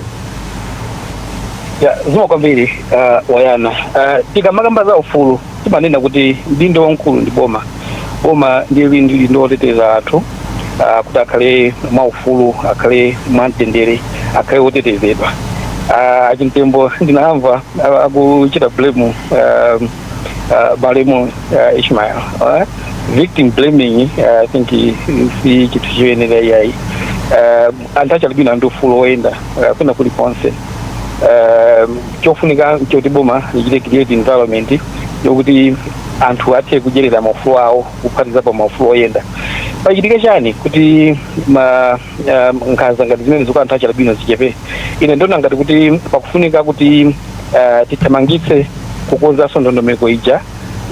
D: Ya, zikomo kwambiri uh, wayana uh, tikamakamba za ufulu timanena kuti mdindo wamkulu ndi boma boma ndiye lili ndi udindo woteteza anthu uh, kuti akhale mwa ufulu akhale mwa mtendere akhale wotetezedwa uh, achimtembo ndinamva uh, akuchita blame uh, uh, malemu uh, ishmael uh, victim blaming uh, i think i- i- si chinthu choyenera iyayi uh, anthu achialubino ali ndi ufulu woyenda uh, kwina kulikonse um, chofunika choti boma lichite create environment yokuti anthu athe kudyerera maufulu awo kuphatikizapo maufulu oyenda pachitike chani kuti ma um, nkhanza ngati zimene zikuti anthu achialubino zichepe ine ndikuona ngati kuti pakufunika kuti uh, tithamangitse kukonzanso ndondomeko ija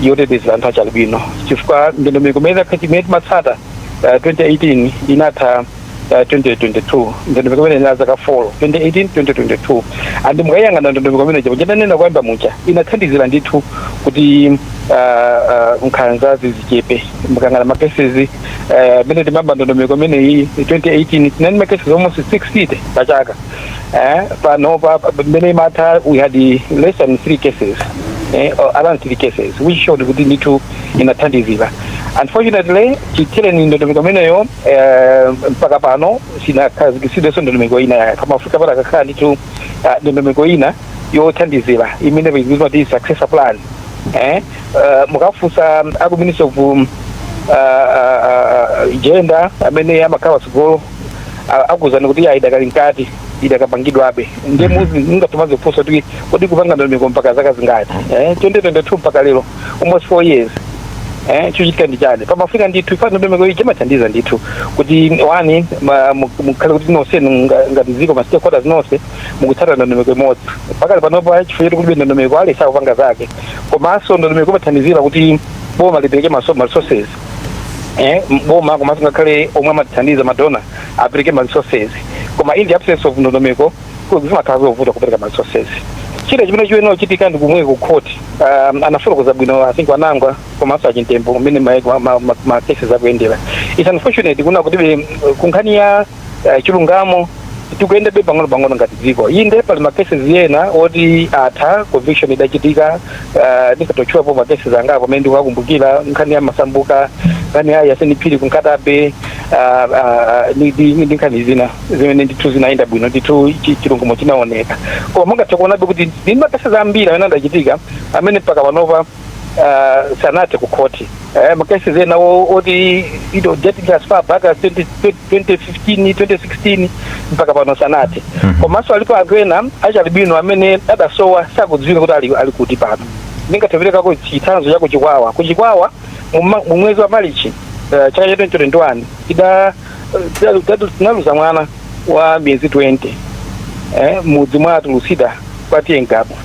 D: yoteteza anthu achialubino chifukwa ndondomeko imene timatsata uh, 2018 inatha uh, 2022 ndondomeko imeneyi inali zaka 4 2018 2022 and mukayang'ana ndondomeko imene ija ndanena koyamba muja inathandizira ndithu kuti uh, uh, nkhanza zichepe mukayang'ana makesezi mmene uh, timayamba ndondomeko imeneyi 2018 tinali makesezi almost 60 pachaka eh, panopa mmene imatha we had less than three cases eh, or around three cases which showed kuti ndithu inathandizira unfortunately chithereni ndondomeko imeneyo eh, mpaka pano sinakhazikitsidwenso ndondomeko ina yake kumafunika panakakhala ndithu ah, ndondomeko ina yothandizira imene paikuizwa kuti successor plan eh, uh, mukafunsa aku ministry of um, uh, uh, uh, gender amene amakhala patsogolo a- akuuzani kuti ayi idakali mkati idakapangidwabe nde muzi mungathe kumadzifunsa kuti kodi kupanga ndondomeko mpaka zaka zingati eh, 2022 mpaka lero almost four years eh, chochitika ndi chani pamafunika ndithu chifukwa ndondomeko ija imathandiza ndithu kuti one ma- mu- mukhale kuti nonse nga- ngati dziko ma stakeholders nonse mukutsata ndondomeko imodzi pakali panopo chifukwa choti kulibe ndondomeko aliyense akupanga zake komanso ndondomeko imathandizira kuti boma lipereke ma- ma resources eh, boma komanso ngakhale omwe amatithandiza madona apereke ma resources koma in the absence of ndondomeko ku- zimakhala zovuta kupereka ma resources china chimene chiyenera kuchitika ndi kumwe ku court um, anafotokoza bwino i think a wanangwa komanso achimtembo mmene ma, ma, ma, ma cases akuyendera it's unfortunate kuona kuti kunkhani ya eh, chilungamo tikuyendabe pang'ono pang'ono ngati dziko inde pali makeses ena oti atha conviction idachitika eh, ndikangotchulapo makeses angapo amene ndikuwakumbukira nkhani ya masambuka nkhani ya yasini phiri kunkhatabe ah, ah, ndi- ndi ndi nkhani zina zimene ndithu zinayenda bwino ndithu chi- chilungamo chinaoneka koma mungathe kuonabe kuti ndi makeses ambiri amene adachitika amene mpaka panopa ah, sanathe kukhoti Eh, makeses ena o- oti ito dating as far back as 20, 2015 2016 mpaka pano sanathe komanso alipo anthu ena achialubino amene adasowa sakudziwika kuti ali, ali kuti pano ndingathe kuperekako chitsanzo cha kuchikwawa kuchikwawa mu ma- mu mwezi wa malichi eh, chaka cha 2021 ida ida- ida- tinaluza mwana wa miyezi 20 eh, mmudzi mwa atulusida kwa TA ngabu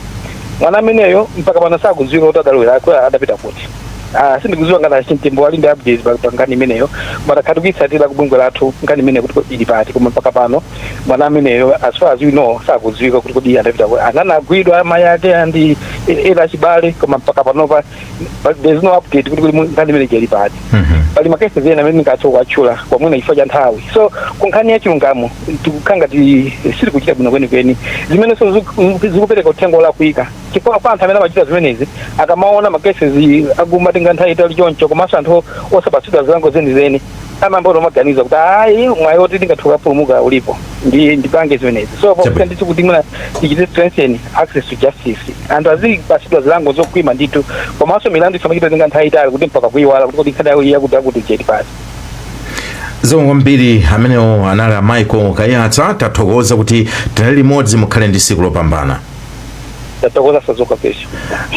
D: mwana ameneyo mpaka pano sakudziwika kuti adalowera adapita kuti Ah, sindikudziwa ngati achimtembo ali ndi updates pa pa nkhani imeneyo ma takhala tikuitsatira ku bungwe lathu nkhani imeneyo kuti kodi ili pati koma mpaka pano mwana ameneyo as far as we know sakudziwika kuti kodi anapita ku- ananagwidwa amayi ake ndi ena achibale koma mpaka panopa but there's no update kuti kodi mu- nkhani imeneyi ili pati Mhm. pali makeses ena amene ndingathe kuwatchula koma mwina chifukwa cha nthawi so ku nkhani ya chilungamo tikukhala ngati sitikuchita bwino kwenikweni zimenenso ziku- zikupereka uthenga olakwika chifukwa kwa anthu amene amachita zimenezi akamaona ma cases akumatenga nthawi yaitali choncho komanso anthu osapatsidwa zilango zenizeni amayamba kuti amaganiza kuti ayi mwayi woti tingathe kukapulumuka ulipo ndi ndipange zimenezi so Chabwino. pofunika ndithu kuti mwina tichite strengthen access to justice anthu azipatsidwa zilango zokhwima ndithu komanso milandu isamachite kutenga nthawi yaitali kuti mpaka kuiwala kuti kodi nkhani ya uje kuti akuti ili
B: pati zikomo kwambiri amenewo anali a michael kaiyatsa tathokoza kuti tinali limodzi mukhale ndi tsiku lopambana tathokoza sazoka pesha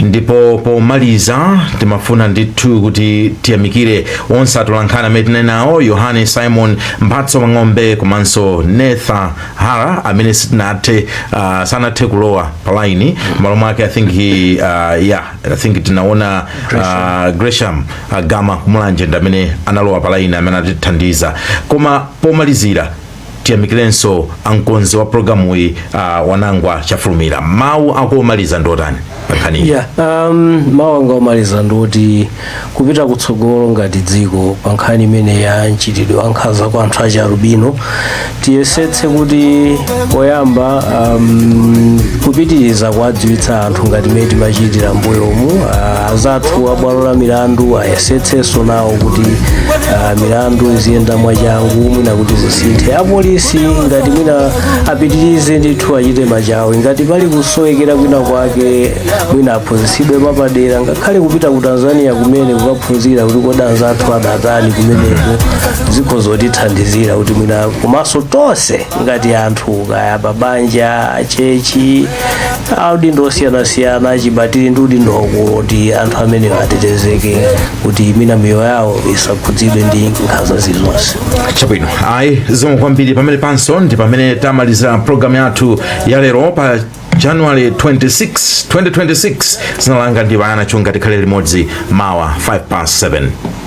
B: ndipo pomaliza timafuna ndithu kuti tiyamikire onse atolankhani amene tinali nawo yohane simon mphatso mang'ombe komanso netha hara amene sitinathe uh, sanathe kulowa palaini malo mwake i think he, uh, yeah, i think tinaona uh, gresham uh, gama kumulanje ndi amene analowa palaini amene atithandiza koma pomalizira tiyamikirenso amkonzi wa programuyi uh, wanangwa chafulumira mawu ako omaliza ndotani pankhaniyi yeah, um, mawu
C: anga omaliza ndoti kupita kutsogolo ngati dziko pa nkhani imeneyi ya mchitidwe wa nkhanza kwa anthu achi alubino tiyesetse kuti poyamba um, kupitiriza kuwadziwitsa anthu ngati mmene timachitira mbuyomu uh, azathu abwalo la milandu ayesetsenso nawo kuti uh, milandu iziyenda mwachangu mwina kuti zisinthe apolisi ngati mwina apitirize ndithu achite machawi ngati pali kusowekera kwina kwake mwina aphunzitsidwe mwapadera ngakhale kupita ku tanzania kumene kukaphunzira kuti kodi anzathu adatani kumeneko zikhoza kutithandizira kuti mwina komanso tonse ngati anthu kaya mabanja achechi audindo osiyanasiyana achibale tili ndi udindo waukulu kuti anthu amenewo atetezeke kuti mwina miyoyo yawo isakhudzidwe ndi nkhanza zilizonse chabwino ayi
B: zikomo kwambiri pamenepanso ndi pamene tamalizira programu yathu ya lero pa january 26 2026 dzina langa ndi bayana chunga tikhale limodzi mawa 5 past 7